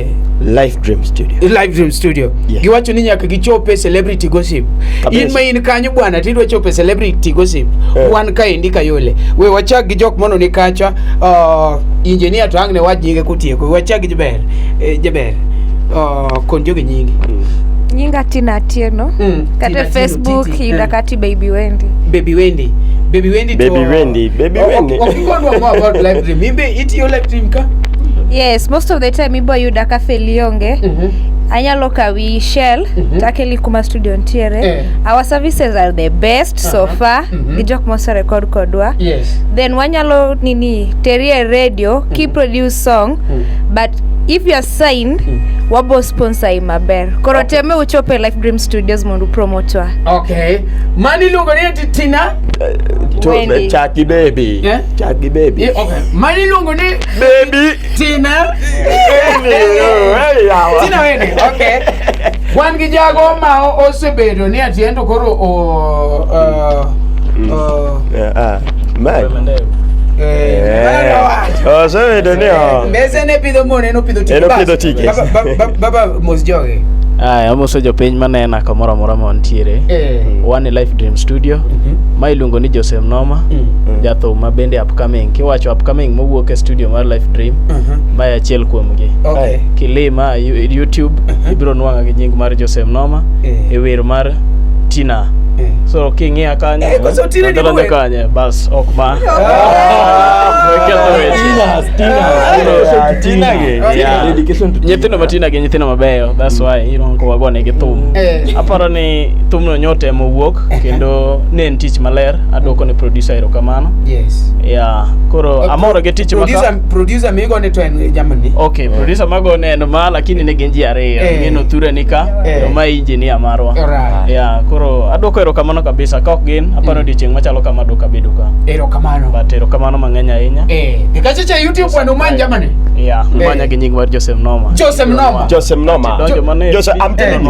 Live Dream Studio. Live Dream Studio. Yes. Giwacho ni nyaka gichope celebrity gossip. Kabisa. In ma in kanyo bwana tidwa chope celebrity gossip. Eh. Wan ka indi kayole. We wachak gi jok mono ni kacha. Uh, engineer to angne wach nyinge kutieko. Wachak gi jaber. Eh, jaber. Uh, konjo gi nyingi. Mm. Nyinga Tina Atieno. Mm. Kata Tina Facebook Atieno, yuda eh. kati Baby Wendy. Baby Wendy. Baby Wendy to. Baby Wendy. Baby Wendy. Wakikodwa more about live dream. Imbe itiyo like team ka yes most of the time ibo yuda ka felionge anyalo kawi shell takeli kuma studio ntiere Eh. our services are the best so Aha. far Mhm. gi jok moserekod kodwa yes then wanyalo nini teri e radio ki produce song but if you are signed wabo sponsor i maber koro Okay. teme uchop e life dream studios mondo upromotwa okay mani iluongo ni eti tina To Wendy. be chaki baby. Eh? Chagi baby. Eh, okay. Mali lungu ni baby Tina. Tina wene. Okay. Wan gi jago ma osebedo ni atiendo koro o uh, mm. uh, yeah, uh, osebedo ni mbese ne pidho mone nopidho tike baba mos joge aya amoso jopiny manena kamoro amora ma wantiere eh. e Life Dream Studio Mhm. ma iluongo ni Joseph Noma Mm. jathum ma bende upcoming kiwacho upcoming mowuok e studio mar Life Dream Aha. ma e achiel kuomgi Okay. kilima yu- YouTube Mhm. ibiro nwang'a gi nying mar Joseph Noma Eh. e wer mar Tina Eh. so king'iya kanyo Eh, koso Otile ni nadonjo mwen. kanyo bas ok ma Weketho weche. Tinas, Tinas, Tina ge. Yeah. Dedication to Tina. nyithindo matina gi nyithindo mabeyo that's why you know, wagonegi thum Eh. aparo ni thumno nyote mowuok kendo ne en tich maler adwoko ne producer erokamano yes yeah koro Uh, amoro gi tich maka producer producer migo ne to en jamani okay producer mago ne en ma lakini ne gin ji ariyo Eh. ng'eno thura nika Eh. to ma engineer marwa Alright. yeah koro adwoko erokamano kabisa ka ok gin aparo Mm. odiochieng' machalo kama adwoko abedo ka erokamano but erokamano mang'eny ahinya eh dikachicha youtube bwana umany jamani yeah Eh. manya gi nying mar Joseph Noma Joseph Noma. Joseph Noma. Donjo mana e- Joseph, I'm telling you.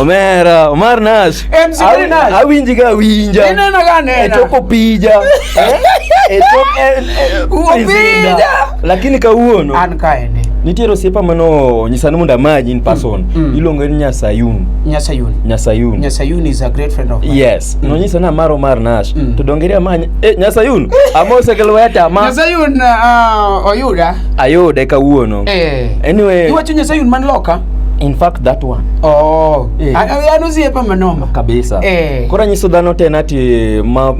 Omera, Omar Nash. Eh, msikiri Nash. Awinji ga winja. Ineno ga nena. Etoko pija. Eh? Etoko eh, eh, Upija. prisinda. Lakini kawuono an kaende nitiere osiepa mano nyisa ni mondo amaji in person. mm. Iluongo ni Nyasayun. nyasayuni Nyasayun. nyasayuni is a great friend of mine Yes, nonyisa ni amaro Omar Nash. Mm. To dongeri amanya. Eh, Nyasayun. Amose ke lweta ma nyasayun uh, oyuda ayude kawuono. eh. Anyway, iwacho nyasayun man loka in fact that one oh Eh. A- a- an osiepa manoma kabisa Eh. koro nyiso dhano ten ati ma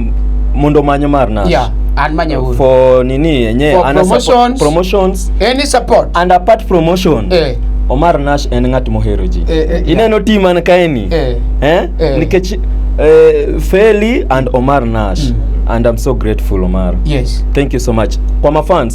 mondo manyo mar nash yeah an manyauru for nini yenye For ana support- promotions. promotions any support and apart promotion eh omar nash en ng'at mohero ji Eh, eh, ineno ti man kaeni eh eh? Eh. nikech eh, feli and omar nash Mm. and i'm so grateful omar yes thank you so much kwa mafans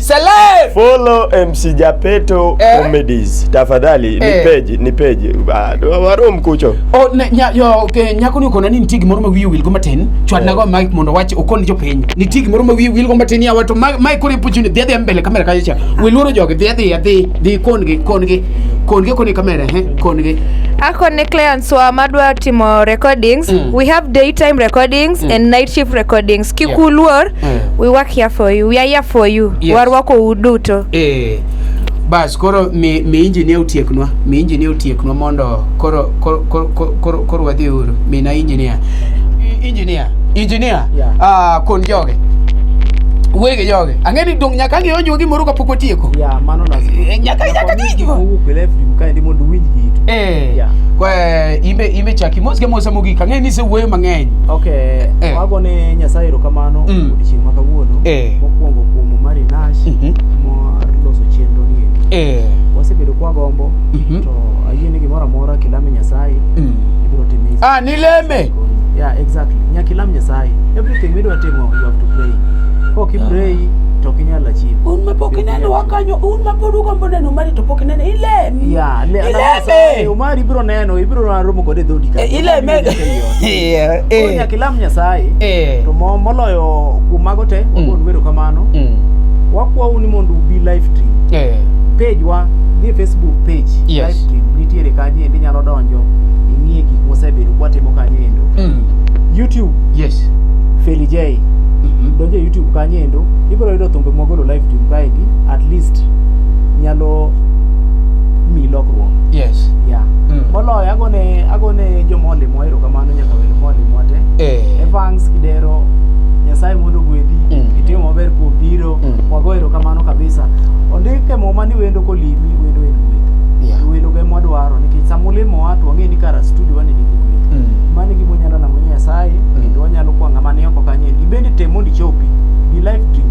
Celeb. Follow MC Japeto eh? Comedies. Tafadhali eh? ni page, ni page. Ah, waro mkucho. Oh, na, nya, yo, okay, nyako ni uko na nini tigi moro ma wiye wil go matin. Chwad eh. nago mic mondo wache okon jo piny. Ni tigi moro ma wiye wil go matin ya watu mic kore puchu ni dhia mbele kamera kaje cha. Wiloro joge dhia dhia dhi dhi kon gi kon gi kon gi koni kamera he kon gi. Ako ne clients wa madwa timo recordings. Mm. We have daytime recordings mm. and night shift recordings. Kikuluor yeah. Eh. we work here for you we are here for you Yes. warwako u duto Eh, bas koro mi, mi injinia otieknwa mi injinia otieknwa mondo koro koro koro koro, koro, koro wadhi uru mina injinia I- injinia injinia Yeah. ah, kon joge wege joge ang'e ni dong nyaka ang'eyo jogi moro kapok otieko Yeah, mano lazima. Eh, nyaka- nyaka Nakwambia kijiko. owuok e left wing kaendi mondo uwinj gitu. Eh, Yeah. kwa imbe imbe chaki mos ke mosa mogik ang'e ni isewuoyo mang'eny Okay. Eh. Agone Nyasaye erokamano mm. odiechieng' ma kawuono eh. mokwongo kuom Mari Nash mm -hmm. mar loso chenro ni eh. wasebedo kwa gombo mm -hmm. to ayie ni gimoro amora kilame Nyasaye mm. ibiro time. Ah, nileme. Yeah, exactly. Nyaka ilam Nyasaye. Everything midwa timo you have to pray. Kok ipray ah. to ok inyal achieve. Un ma pok ineno wakanyo, un ma pod ugombo neno Omari to pok ineno, ilem. Yeah, ileme. Omari ibiro neno, ibiro romo kode dhodi ka. Eh, ileme. Eh, Koro eh, nyaka ilam Nyasaye eh. to mo- moloyo kuom mago te Mm. wago wero kamano Mm, wakwau ni mondo ubi live stream eh. page wa ni e facebook page Yes. live stream nitiere kanyo endo inyalo donjo ing'ie gik mosebedo kwatimo kanyo endo Mm, youtube yes. Feli J Mhm. donjo e youtube kanyo endo ibiro yudo thumbe mwagolo live stream kaendi at least nyalo mi lokruok Yes. yeah. Mm. moloyo agone agone jomolimo Erokamano nyaka wer mwalimwa te. Eh. Evans Kidero, Nyasaye mondo ogwedhi. Mm. Itimo maber kuom biro. Mm. Wago erokamano kabisa. Ondike muma ni wendo kolimi, wendo en gweth. Yeah. Wendo ge mwadwaro nikech sama ulimo wa to wang'e ni kara studio wan nigi gweth. Mm. Mano e gima unyalo namo Nyasaye kendo wanyalo kwa ng'ama ni oko kanyo. Ibende tem mondo ichopi. Be life dream.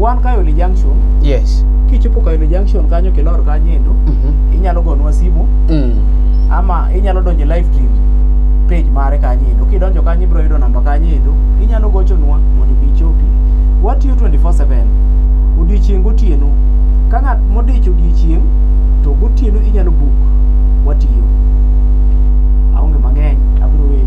Wan Kayole Junction, Yes. kichopo Kayole Junction kanyo kilor kanyo endo, Mhm. inyalo gonwa simu Mm. ama inyalo donjo e live stream page mare kanyo endo kidonjo kanyo ibiro yudo namba kanyo endo inyalo gochonwa mondo ibi ichopi watiyo 24/7 odiechieng' gotieno ka ng'at modich odiechieng' to gotieno inyalo buk watiyo aonge mang'eny abiro weyi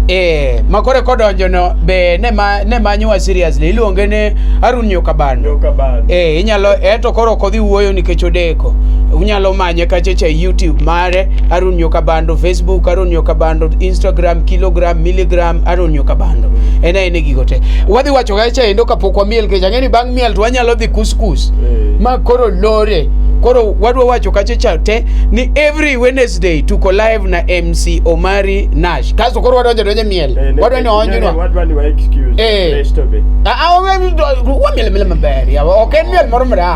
Eh, makore kodonjo no be ne ma ne manyowa seriously iluonge ni Harun Nyokabano. Nyokabano. Eh, inyalo eh to koro kodhi wuoyo nikech odeko. Nyako. Unyalo manye kachecha e YouTube mare Harun Nyoka Bando, Facebook Harun Nyoka Bando, Instagram, Kilogram, Milligram Harun Nyoka Bando. En aena gigo te. Wadhi wacho kacha endo kapok wamiel kech ang'e ni bang' miel to wanyalo dhi kuskus. Eh. Ma koro lore. Koro wadwa wacho kachecha te ni every Wednesday tuko live na MC Omari Nash. Kaso koro wadonjo donjo e miel. Eh, ne- Wadwa ni ne- onjunwa. ne- wadwa ni wa excuse Eh. Resto be. Ah, ah, wamiel miel maber. yawa. Ok en miel moro mra.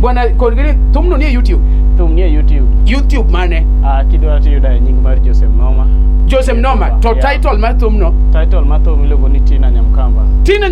Bwana Kolgeni tumno nie YouTube. Tum nie YouTube. YouTube mane? Ah, kidwa tiyo da nying mar Joseph Noma. Joseph Noma to yeah. title mar tumno. Title mar thum iluongo ni Tina Nyamkamba. Tina